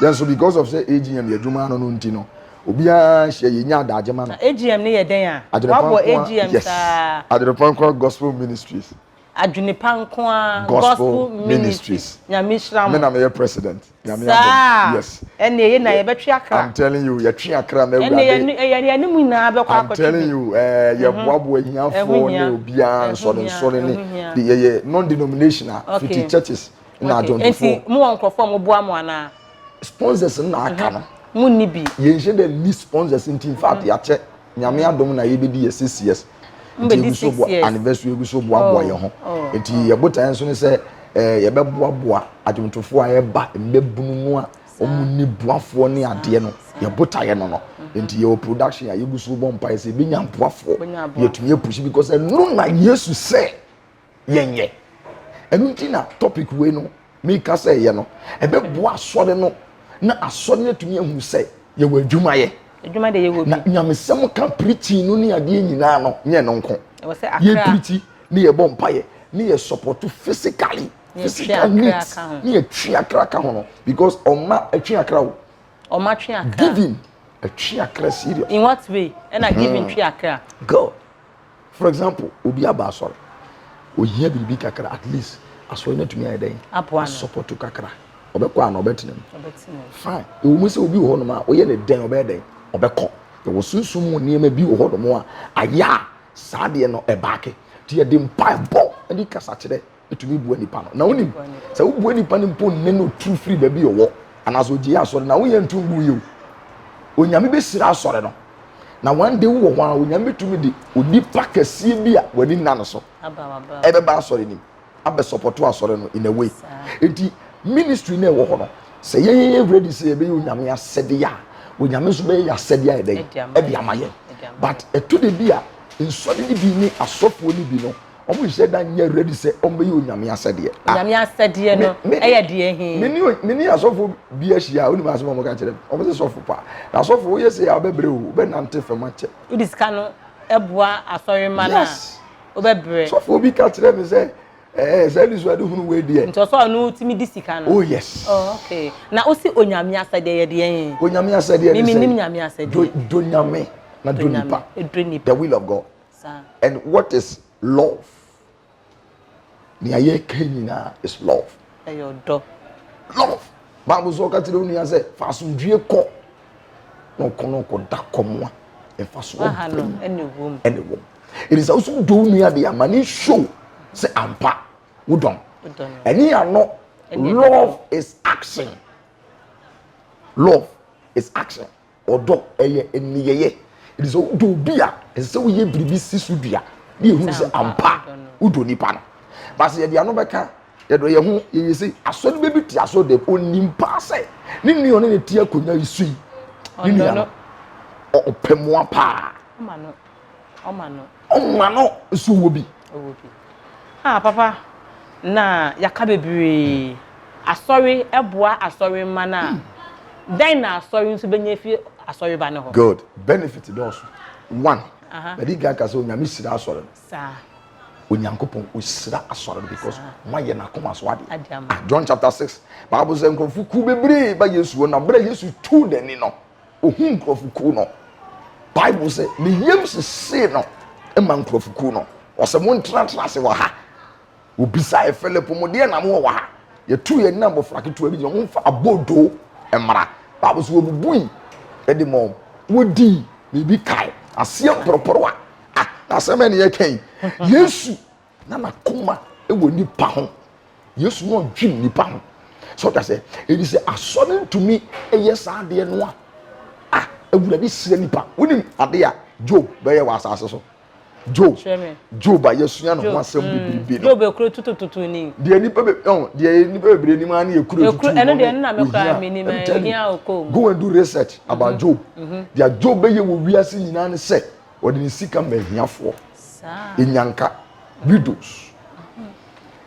Yɛn nso because of sɛ AGM yɛ adwuma ano no nti no obiara hyɛ yɛnya adagye ma no. AGM ne yɛ dɛn a? Wabɔ AGM saa. Adwene Pɔnkɔ Gospel Ministries. adwene pa nko ara gospel ministries nyame hyira mo me na meyɛ president nyame abom yes ɛne ɛyɛ na yɛbɛtwe akra i'm telling you yɛtwe akra na awurade ɛne ɛyɛ yɛne mu nyinaa bɛkɔ akɔtwe i'm telling you ɛɛ mhm. yɛboaboa ahiafoɔ ne obiara nsɔre nsɔre ne de yɛyɛ non denominational fiti churches na adwontofoɔ nti mo wɔ nkurɔfoɔ mo boa mo anaa sponsors na aka no mhm. mo nni bi yɛnhyɛ dɛ ni sponsors nti in fact mhm. yɛakyɛ Nyame adom na yɛbɛdi yɛ six years nti yɛgu so bɔ anniversary yɛgu so boaboa yɛn ho nti oh, oh. yɛ botaeɛ nso ne sɛ eh, yɛbɛboaboa adwomtofoɔ a ɛba mmabunu mu a wɔn ni boafoɔ ne adeɛ no yɛ botaeɛ no no mm-hmm. nti yɛwɔ production a yɛgu so bɔ mpaeɛ sɛ yɛbɛnya boafoɔ yɛtumi apusi because ɛno na yesu sɛ yɛnyɛ ɛno nti na topic wei no meka sɛ yɛ no ɛbɛboa asɔre no na asɔre no atumi ahu sɛ yɛwɔ adwuma yɛ adwuma de yɛwɔ bi na nyamesɛm ka preaching no ne adeɛ nyinaa no nyɛ no nko yɛ preaching ne yɛbɔ mpaeɛ ne yɛ support physically physical needs ne yɛtwe akra ka ho no because ɔma atwe akra o ɔma twe akra giving atwe akra serious in what way ɛna giving twe akra god For example, obi aba asɔre, ohia biribi kakra, at least asɔre no atumi ayɛ dɛn? Asɔpɔto kakra. Ɔbɛkɔ a na ɔbɛtena mu. Fine. Ɛwɔ mu sɛ obi wɔ hɔnom a ɔyɛ ne dɛn ɔbɛyɛ dɛn? Ɔbɛkɔ. Yɛwɔ sunsum mu nneɛma bi wɔ hɔnom a ayɛ a saa deɛ no ɛbaake. Nti yɛde mpaebɔ ne kasa kyerɛ tumi bua nipa no na wonim sɛ wobua nipa no mpo nne no turu firi baabi ɔwɔ anaasɛ ɔgye asɔre na woyɛ nto ngu yɛ o onyame bɛhyira asɔre no na one day wowɔ hɔ a onyame bɛtumi de onipa kɛseɛ bi a w'ani nna no so ɛbɛba asɔre nim abɛsɔpɔto asɔre no in a way nti ministry no ɛwɔ hɔ no sɛ yɛyɛ ready sɛ yɛbɛyɛ onyame asɛdeɛ a onyame nso bɛyɛ yɛ asɛdeɛ a ɛdɛn ɛde ama yɛn but ɛto de bi a nsɔre no bi ne asɔfoɔ no bi no wɔn nhyɛ da nyɛ ready sɛ wɔn bɛyɛ onyame asɛdeɛ. Ah, onyame asɛdeɛ no ɛyɛ deɛ hin. me ne asɔfo bi ahyia a onim asɛm a wɔka kyerɛ wɔn sɛ sɔfo paa na asɔfo woyɛ sɛ yɛ abɛbrɛ o wobɛnante fam akyɛ. wodi sika no ɛboa asɔre ma no a wobɛbrɛ. sɔfo bi ka kyerɛ me sɛ ɛɛ sɛ ɛni so ɛde hunu wei deɛ. nti ɔsɔ ɔno tumi di sika no. oh yes. oh okay na o si onyame asɛdeɛ yɛ deɛ hin. onyame asɛdeɛ ne sɛ mimi nim nyame asɛdeɛ. do do nyame na do nipa. do nipa the will of God. saa. And what is love? Nea yɛka nyinaa is love. Ɛyɛ ɔdɔ. Love. Bible sɛ ɔka kyerɛ wo nua sɛ fa asomdwie kɔ na ɔkɔ na ɔkɔda kɔm a mfasoɔ ɛne wom ɛne sɛ woso wodɔ wo nua de ama ne show sɛ ampa wodɔn ɛne yɛanɔ love is action love is action Ɔdɔ, ɛyɛ nneyɛeɛ. Ɛfiri sɛ wodɔ obi a, ɛsɛ sɛ woyɛ biribi si so dua na yɛhunu sɛ ampa wodɔ nipa no. Ba sɛ yɛde ano bɛka yɛdɔ yɛn ho yɛyɛ sei, asɔre bɛdu te asɔre dɛm, ɔnim paa sɛ ne nua ɔne ne te akonnwa yi so yi, ne nua no ɔpɛ mmoa paa. ɔma no. ɔma no nso wɔ bi. ɔwɔ bi a ah, papa na yɛaka bebree asɔre ɛboa asɔre mma no a dɛn na asɔre nso bɛnya fi asɔre ba no hɔ. good benefit dɔɔso one madi kan ka sɛ onyame hyira asɔre no saa onyankopɔn ɔhyira asɔre no because moayɛ no akoma so adeɛ ah, john chapter six bible sɛ nkurɔfo ku bebree ba yesu hɔ na berɛ yesu tuu n'ani no Ohuu nkurɔfokuw no. Bible se, Ne yam sesee no ma nkurɔfokuw no. Ɔse, Montenatena ase wɔ ha. Obisae, Filipo, mo deɛ na mo wɔ wɔ ha? Yɛtuu yɛn ne abɔfra ketewa bi gyina, momfa abodoo mmra. Bible se, Wɔbubui de maa wɔn. Wɔdii, na ebi kae. Aseɛ mporoporowa. Ah, na asɛm bɛn na yɛreka yi? Yesu na n'akoma wɔ nipa ho yesu na ɔdwen nipa ho sɛ ɔda sɛ ɛdi sɛ asɔre ntumi yɛ saa adeɛ no a a awurade srɛ nipa wonim adeɛ a job bɛyɛ wɔ asase so job job a yɛsua ne ho asɛm mm. bebrebe no job ekuro tutututu ni deɛ nipa bɛ ɔn deɛ nipa bebree nim ara ne ekuro tutu no ɛno deɛ nna mekura mi nim ɛhia okoo mu go and do research about mm-hmm. job mm-hmm. deɛ job bɛyɛ wɔ wiase nyinaa ne sɛ Ɔde ne sika ma ahiafoɔ. Enyanka. Widows.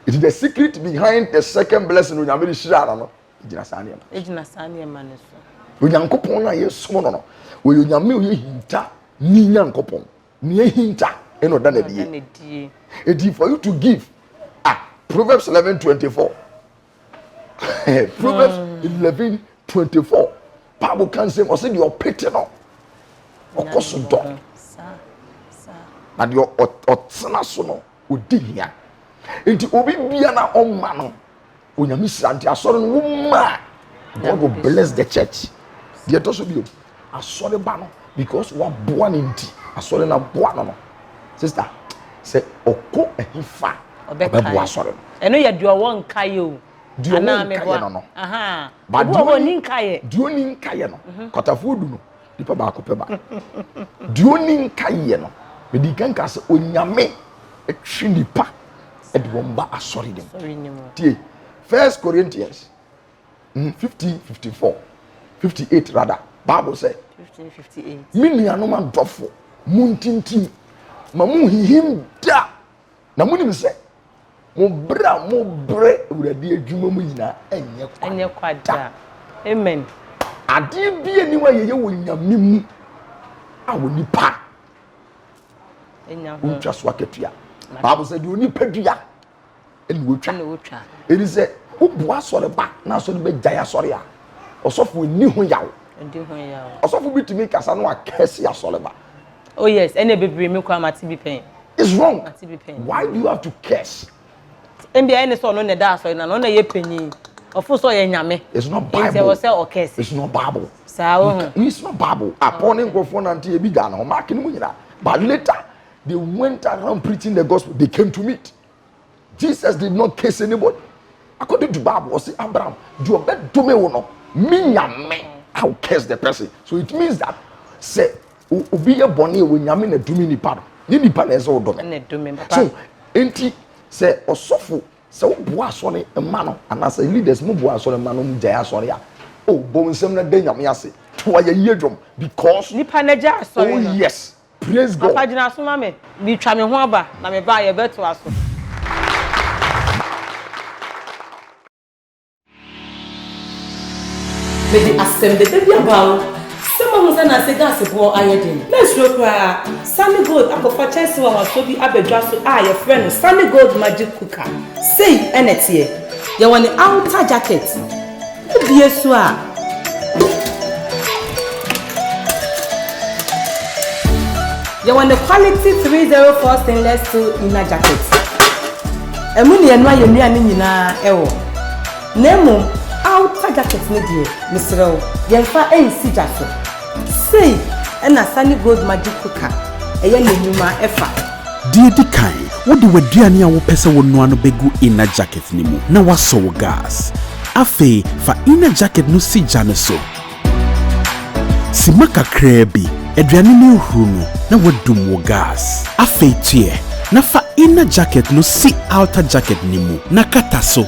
Eti the secret behind the second blessing onyame de hyira no no egyina saa nneɛma. Egyina saa nneɛma no so. Onyankopɔn no a yɛsom no no wɔyɛ onyame a ɔyɛ hinta ni nyankopɔn nea hinta ɛna ɔda n'adie. Eti for you to give ah Proverbs eleven twenty four proverbs hmm. eleven twenty four bible kan sɛ ɔsɛ deɛ ɔpete no ɔkɔ so dɔ na deɛ ɔtena so no ɔdi hia nti obi bia na ɔma no onyame hyira nti asɔre no womaa god will bless the church deɛ ɛtɔ so bio Asɔre ba no because waboa ne nti asɔre no aboa no no sister sɛ ɔkɔ ɛhe fa ɔbɛboa asɔre no. Ɛno yɛ deɛ ɔwɔ nkaeɛ o. Deɛ ɔwɔ nkaeɛ no no. Ba deɛ ɔni nkaeɛ. Deɛ ɔni nkaeɛ no mhm. kwatafoɔ du no nipa baako pɛ ba. Deɛ ɔni nkaeɛ no medi kan ka sɛ onyame ɛtwe nipa ɛde wɔn ba asɔre no mu. Tie first Corinthians. mm fifteen fifty four fifty eight rather bible sɛ fifteen fifty eight me nuanom adɔfo mo ntintim ma mo nhihim da na mo nim sɛ mo bere a mo bere awurade adwuma mu nyinaa ɛnyɛ kwa ɛnyɛ kwa da amen adeɛ bi a niwa yɛyɛ wɔ nyame mu a wɔ nipa ɛnya ho ntwa so akatua bible sɛ deɛ onipa dua ɛna wotwa ɛna wotwa ɛni sɛ wobu asɔreba na asɔre bɛ gya asɔre a ɔsɔfo ɛni ho yaw ɛni ho yaw ɔsɔfo bi tumi kasa no akɛse asɔreba oh yes ɛna bebree mi kura ma ti bi pɛn it's wrong ma ti bi pɛn why do you have to curse ɛnbi ɛni sɛ ɔno na ɛda asɔre na ɔno na ɛyɛ panyin ɔfo sɛ ɔyɛ nyame it's not bible ɛni sɛ ɔsɛ ɔkɛse it's not bible saa wɔn it's not bible apɔ ne nkorofo nante ebi gya no ho maaki ne mu nyina but later They went around preaching the gospel. They came to meet. Jesus did not curse anybody. According to Bible, was Abraham, you bet to me no, me nyame, I'll curse the person. So it means that say obi ye boni we nyame na dumi ni pado. Ni ni pado eze odome. So enti say osofo say oboa sori emano and as leaders mo boa sori emano mo jaya sori ya. Oh, bo nsem na de nyame ase. To aye ye dwom because. Nipa na jaya sori. Oh yes. Praise God. Papa gyina so ma me. Bi twa me ho aba na me ba a yɛ bɛ to a so. Mede asɛm dɛdɛ bi aba wo sɛ mahu sɛ nanse gas boɔ ayɛ den. Mansuro koraa. Sunny Gold akɔfa kyɛnse nwanwasoɔ bi abɛdwa so a yɛfrɛ no Sunny Gold Magic Cooker. Sei na ɛteɛ. Yɛwɔ ne outer jacket. Wobue so a. Yɛwɔ ne quality three zero four stainless steel inner jacket. Ɛmu na yɛnoa yɛn nnuane nyinaa ɛwɔ. Na mmom outer jacket no deɛ, mesrɛ wo, yɛmfa nsi gya so. Sei na Sani Gold Magic Cooker yɛ n'enwuma fa. Deɛ edi kan, wode w'aduane a wopɛ sɛ wonoa no begu inner jacket no mu na woasɔ wo gas. Afei fa inner jacket no si gya no so. Simma kakraa bi, aduane no ahuru no na woadum wo gas. Afei tuɛ na fa inner jacket no si outer jacket no mu na kata so.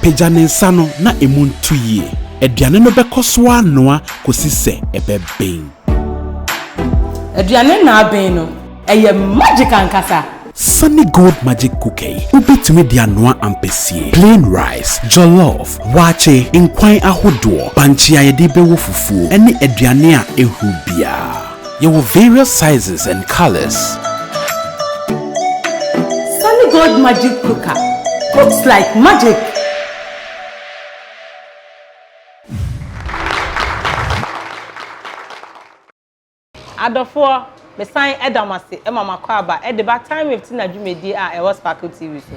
Pagya ne nsa no na emu ntu yie. Aduane no bɛkɔ so ara anoa kɔsi sɛ ɛbɛben. Aduane no aben no, ɛyɛ magic ankasa! Sunny Gold Magic Cooker yi, wobɛtumi de anoa ampesie, plain rice, jollof, waakye, nkwan ahodoɔ, bankye a yɛde rebɛwɔ fufuo, ne aduane a ɛhuru biara. Yɛwɔ various sizes and colours. Sunny Gold Magic Cooker cooks like magic! Adɔfoɔ, mesan da mo ase ma mo akwaaba de ba Time Wave Tina dwumadie a ɛwɔ Sparkle TV so.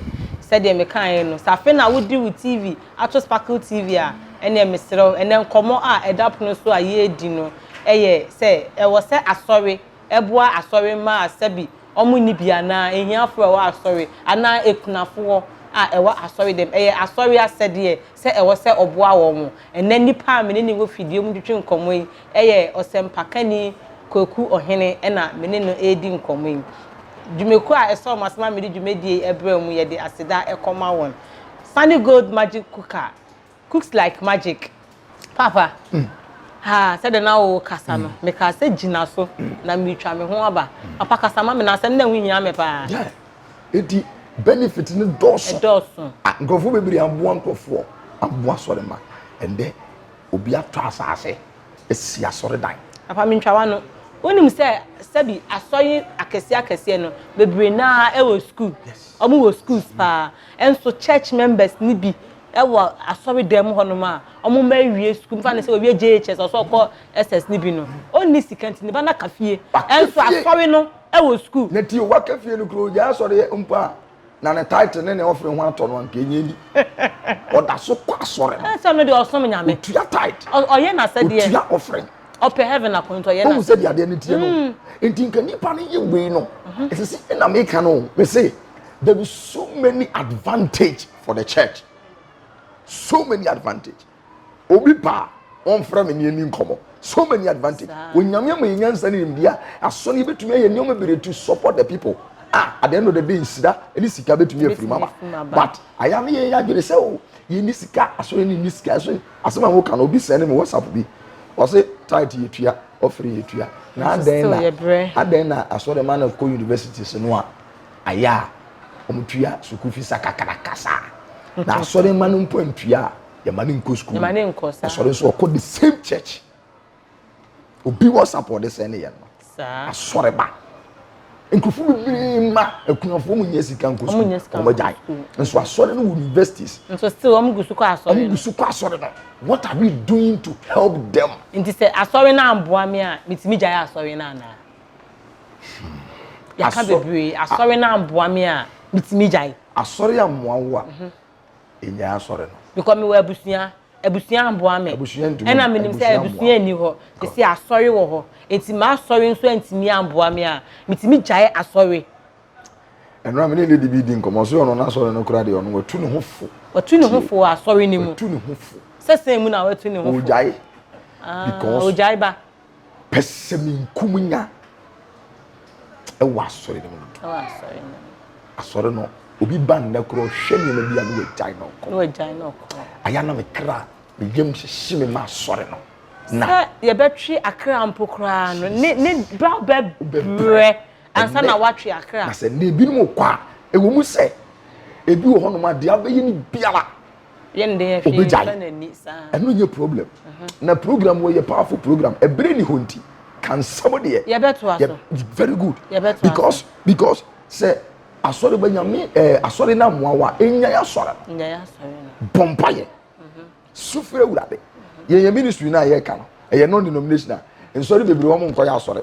Sɛdeɛ mekaeɛ no, sɛ afei na wode wo TV ato Sparkle TV a, ɛnneɛ meserɛ wo, ɛnnɛ nkɔmmɔ a ɛda pono so a yɛredi no, yɛ sɛ ɛwɔ sɛ asɔre boa asɔre mma a sɛbi wɔn nni bi anaa ahiafo a ɛwɔ asɔre anaa akunafo hɔ a ɛwɔ asɔre dɛm. Ɛyɛ asɔre asɛdeɛ sɛ ɛwɔ sɛ ɔboa wɔn. Ɛnnɛ nnipa a me ne no wɔ fidua mu twetwe nkɔmmɔ yi yɛ ɔsɛmpakani Kwaku Ɔhene na me ne no redi nkɔmmɔ yi. Dwumakuo a ɛsɔɔ m'asɛm ma mede dwumadie yi brɛɛ wɔn yi yɛde aseda kɔma wɔn. Sunny Gold Magic Cooker. cooks like magic papa ha sɛdeɛ na wo kasa no mekaa sɛ gyina so na meretwa me ho aba papa kasa ma me na asɛm na ɛho hia me paa ɛti benefit no dɔɔso dɔɔso nkurɔfoɔ bebree aboa nkurɔfoɔ aboa sɔre ma ɛndɛ obi atɔ asaase asi asɔre dan papa mentwa wa no wonim sɛ sɛbi asɔre akɛseɛ akɛseɛ no bebree naa ɛwɔ school ɔmo wɔ schools paa ɛnso church members ne bi wɔ asɔre dan mu hɔnom a ɔmo mma awie sukuu mfa ne sɛ owie JHS ɔsɛ ɔkɔ SS ne bi no ɔnni sika nti ne ba no aka fie ɛnso asɔre no wɔ sukuu. Na tio waka fie no kura ogyae asɔre mpo a na ne title ne ne offering ho atɔ no anka enya bi ɔda so kɔ asɔre no ɛsɛ no deɛ ɔsom nyame otua title ɔyɛ n'asɛdeɛ otua offering ɔpɛ heaven akɔ nti ɔyɛ n'asɛdeɛ ɔhu sɛ deɛ adeɛ no teɛ no hmm. nti nka nipa no yɛ wei no ɛsɛ sɛ ɛna meka no mese there is so many advantage for the church so many advantage obi ba wọn fura mi ni ẹni nkɔmɔ so many advantage onyame ama yẹn nyansa ne nimdeɛ a aso no yɛbɛtumi ayɛ nneɛma bebree to support the people ah at the end of the day nsira ɛne sika bɛtumi afiri mu aba but ayɛ no yɛn adwene sɛ o yɛn ni sika aso yɛn ni sika aso asɛm a wɔka no obi sɛn ne mi whatsapp bi wɔsi tight yɛ tua ɔfiri yɛ tua na adɛn na adɛn na asɔrɔ ma na kɔ university so no a. ayɛ a wɔtua sukuu fees akakraka saa na asɔre mma no mpo antua a yɛma no nkɔ sukuu asɔre nso ɔkɔ the same church obi wɔ sapɔde sɛ ne yɛn no asɔre ba nkurɔfoɔ bebree ma akunafoɔ mu nyɛ sika nkɔ sukuu wɔn agyae nso asɔre no wɔ universities nso still wɔn gu so kɔ asɔre no wɔn gu so kɔ asɔre no what are we doing to help them nti sɛ asɔre no amboa me a metumi gyae asɔre no anaa Yɛka bebree, asɔre no amboa me a, metumi gyae. Asɔre ammoa wo a, mhm. ɛnyae asɔre no. Because mewɔ abusua, abusua amboa me. Abusua ntumi. Ɛna menim sɛ abusua nni hɔ, te sɛ asɔre wɔ hɔ. Enti m'asɔre nso antumi amboa me a, metumi gyae asɔre. ɛno a mene lady bi di nkɔmmɔ sɛ ɔno n'asɔre no kora deɛ ɔno watu ne ho fo watu ne ho fo asɔre no mu watu ne ho fo sɛ sɛn mu na watu ne ho fo ɔgyae ah, because ɔgyae ba pɛsɛmenkominya wɔ asɔre no mu asɔre no obi ba nnɛ korɔ hwɛ nneɛma bi a ne wagyae na ɔkɔ ayɛ na me kra me yam hyehye me ma asɔre no na sɛ yɛbɛtwe akra mpo koraa no ne ne bra bɛbrɛ ansa na watwe akra na sɛ ne ebinom kɔ a ɛwɔ mu sɛ ebi wɔ hɔnom adeɛ abɛyɛ ne biara obegyae ɛno nyɛ problem na program wɔ yɛ powerful program ɛbere ni hɔ nti kansɛm deɛ yɛbɛtoa so very good because because sɛ asɔre bɛ nyame ɛɛ asɔre na mmoawa enya yɛ asɔre bɔmpa yɛ sufre wurade yɛn yɛ ministry na yɛ ka no ɛyɛ non denominational nsɔre bebree wɔn nkɔ yɛ asɔre.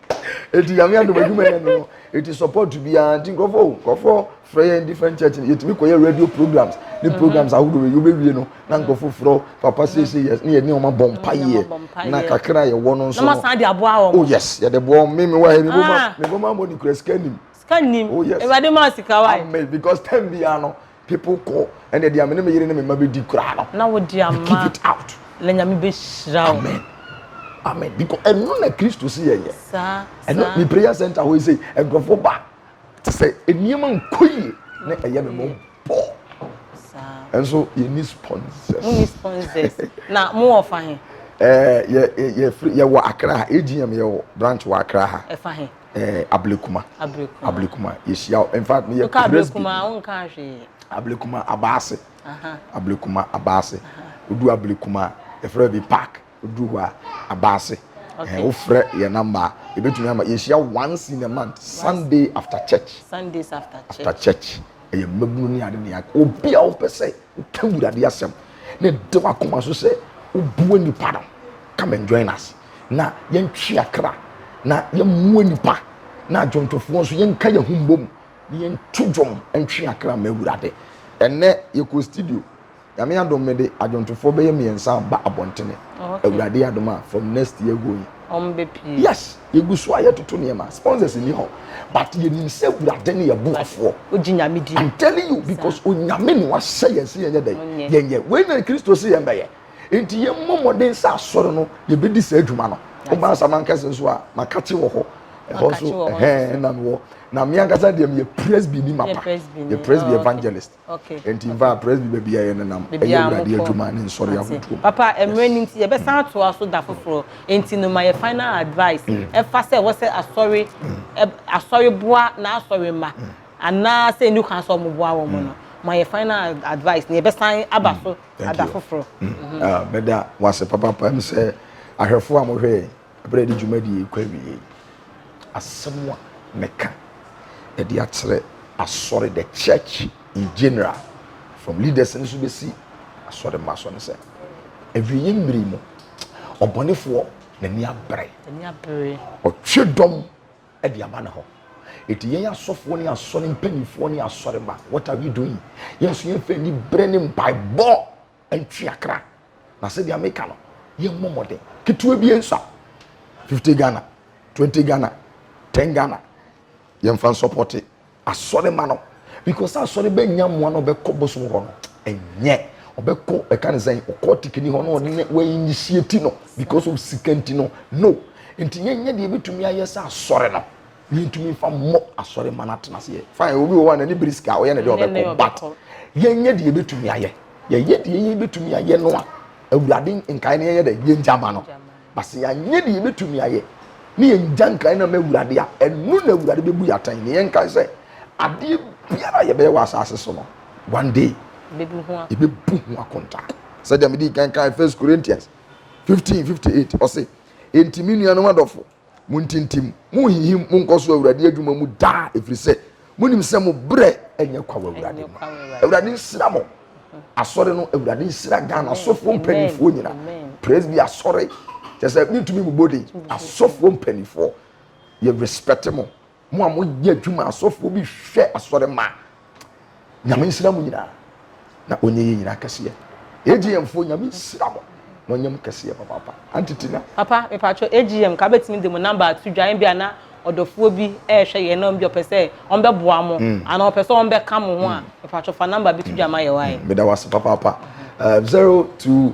eti nyame adum adwuma yɛ no eti support bi a nti nkurɔfo o nkurɔfo frɛ yɛn different church no yɛtumi kɔ yɛ radio programs ne mhm. programs ahodoɔ yɛ yɛbɛ wie no na mhm. nkurɔfo frɛ papa sese mhm. yɛ ne yɛ ne wɔn abɔ mpa yɛ na kakra yɛ wɔ no nso no oh yes yɛde boɔ mi mi wɔ ha mi bɔ ma ah. mi bɔ ma bɔ ne kura sika nim sika nim oh yes ewurade ma sika wa amen because ten bi ano People kɔ ɛnna deɛ mene me yere ne me mma bɛdi koraa no. Na wo deɛ ama. Keep it out. Na nyame bɛhyira wo. Amen. Amen. Because ɛno na Kristo si yɛyɛ. Saa. Ɛno ne prayer center hɔ yi sɛ nkurɔfoɔ ba te sɛ nneɛma nkɔ yie na ɛyɛ me mo bɔ. Saa. Nso yɛ ni sponsors. Mo ni sponsors. Na mo wɔ fa he. Ɛɛ yɛ yɛ yɛ wɔ Accra ha AGM yɛ wɔ branch wɔ Accra ha. Ɛfa he. ɛɛ eh, ablekuma ablekuma ablekuma yɛhyia hɔ in fact meyɛ presby ablekuma abaase ablekuma abaase odu ablekuma ɛfrɛ bi park odu hɔ a abaase ɛɛ wofrɛ yɛ namba ebetumi ama yɛhyia once in a month sunday after church sundays after church after church ɛyɛ mmabunu ne ade ne ade obi a wopɛ sɛ woka wurade asɛm na ɛde wakoma so sɛ wobua nipa no come and join us. na yɛntwe akra na yɛmmoa nnipa na adwontofoɔ nso yɛnka yɛn ho mbom na yɛnto dwom ntwe akra ma awurade ɛnɛ yɛkɔ studio nyame adom mede adwontofoɔ bɛyɛ mmiɛnsa ba abɔntene awurade adom a from next year going yes yɛgu so a yɛtoto nneɛma sponsors ni hɔ but yɛnim sɛ awurade ne yɛboafoɔ I'm telling you because onyame ne wahyɛ yɛn sɛ yɛnyɛ dɛn yɛnyɛ wei na kristo sɛ yɛn bɛyɛ nti yɛmmɔ mmɔden sɛ asɔre no yɛbɛdi saa adwuma no woma asaman kɛse nso a makakye wɔ hɔ ɛhɔ nso ɛhɛn na mewɔ na me ankasa deɛ meyɛ presby ni mapa yɛ presby oh, evangelist nti mfa presby baabi a yɛnenam ɛyɛ awurade adwuma ne nsɔre ahodoɔ papa mmerɛ no nti yɛbɛsan atoa so da foforɔ nti no ma yɛ final advice mm. ɛfa sɛ ɛwɔ sɛ asɔre mm. asɔre boa na asɔre ma mm. anaasɛ ɛni kwan sɛ ɔmoboa wɔ mu no ma yɛ final advice na yɛbɛsan aba so ada foforɔ. Mm-hmm. Ah, mɛda wase papapa m sɛ ahwɛfoɔ a mohwɛ yɛn ɛberɛ de dwumadie kɔ awie asɛm a mɛka ɛde akyerɛ asɔre the church in general from leaders no so bɛsi asɔre mma so no sɛ awieɛ mmiri mu ɔbɔnefoɔ n'ani abere ɔtwe dɔm de ama ne ho. Eti yɛn asɔfoɔ ne asɔre mpanimfoɔ ne asɔre ma what are we doing? Yɛn nso yɛn fɛ ni brɛ ne mpaebɔ ntua kra na sɛ deɛ meka no yɛn mmɔ mmɔden ketewa bi nsa fifty Ghana twenty Ghana ten Ghana yɛn fa nsɔpɔte Asɔre ma no because asɔre bɛ nya mmoa na ɔbɛ kɔ bosom hɔ no ɛnyɛ ɔbɛ kɔ ɛka ne sɛn ɔkɔ tikini hɔ na ɔne wɔ initiate no because of sika nti no no nti yɛn nyɛ deɛ ebitumi ayɛ sɛ asɔre no yɛn tumi nfa mmɔ asɔre ma no atena seɛ fine obi wɔ hɔ a n'ani biri sika ɔyɛ ne deɛ ɔbɛ kɔ but yɛn nyɛ deɛ ebitumi ayɛ yɛyɛ deɛ yɛn ebitumi ayɛ no a awurade nkae no yɛn yɛ dɛ yɛn gya ma no. Na sɛ yɛanyɛ deɛ yɛbɛtumi ayɛ ne yɛnngya nkran no mma Awurade a, ɛno na Awurade bɛbu yɛn atɛn. Na yɛnkae sɛ, adeɛ biara a yɛbɛyɛ wɔ asaase so no, one day yɛbɛbu ho akonta. Sɛdeɛ medii kan kae First Corinthians fifteen fifty eight, ɔse, Enti me nuanom adɔfo, montintim, monhinhim, monkɔ so wɔ Awurade adwuma mu daa, ɛfiri sɛ monim sɛ mo berɛ ɛnyɛ kwa wɔ awurade mu awurade nsira mo asɔre no awurade nsira ghana asɔfoɔ mpanimfoɔ nyina presby asɔre kyɛ sɛ mentumi mu bode asɔfoɔ mpanimfoɔ yɛ respect mo mo a moyɛ adwuma asɔfoɔ bi hwɛ asɔre ma nyame nsira mo nyinaa na ɔnyɛ yɛ nyina kɛseɛ AGM foɔ nyame nsira mo na ɔnyɛ mo kɛseɛ papaapa Auntie Tina. Papa mepatwɔ AGM ka bɛtumi de mo number ato dwa ebia na ɔdɔfoɔ bi ɛɛhwɛ yɛn na ɔmbi ɔpɛ sɛ ɔmbɛboa mo anaa ɔpɛ sɛ ɔmbɛka mo ho a mepatwɔ fa number bi to dwa ma yɛ wae. Meda wase papaapa 020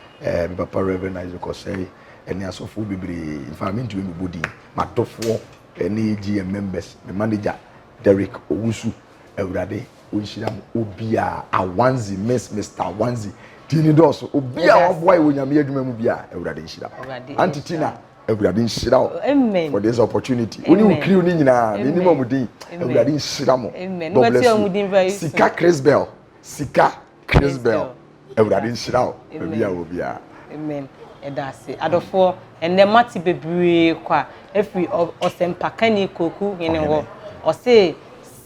eh, me papa Rev. Isaac Osei, ɛne asɔfoɔ bebree, in fact, mentumi mebɔ din, m'adɔfoɔ ɛne AGM members, me manager Derek Owusu, Awurade ɔnhyira mo, obiara, Awanzi, Miss Mr. Awanzi, din ne dɔɔso, obiara waboa yɛ wɔ nyame adwuma mu biara, Awurade nhyira mo. Awurade Auntie nhyira Tina, Awurade nhyira wo Amen. for this opportunity. Wo ne wo Amen. kiriw no nyinaa, menim Amen. ɔmo din, Amen. Awurade nhyira mo. Amen. God Wobɛte bless ɔmo din very you. soon. Sika Chris Bell, Sika Chrisbell awurade nhyira wo baabi a wɔ biara. Amen. Ɛda ase. Adɔfoɔ, ɛnɛ mate bebree kwa afiri ɔsɛmpakani Koku Hene hɔ. Ɔse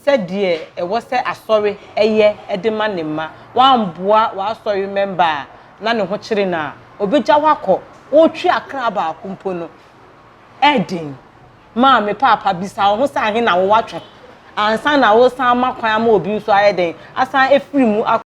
sɛdeɛ ɛwɔ sɛ asɔre ɛyɛ de ma ne mma, woamboa w'asɔre mɛmba a na ne ho kyere no a, ɔbɛgya wo akɔ. Wotwe akra baako mpo no, ɛyɛ den. Maame paapa, bisa wo ho sɛ ahe na wowatwe ansa na woresan ama kwan ama obi nso ayɛ dɛn? Asan afiri mu akɔ.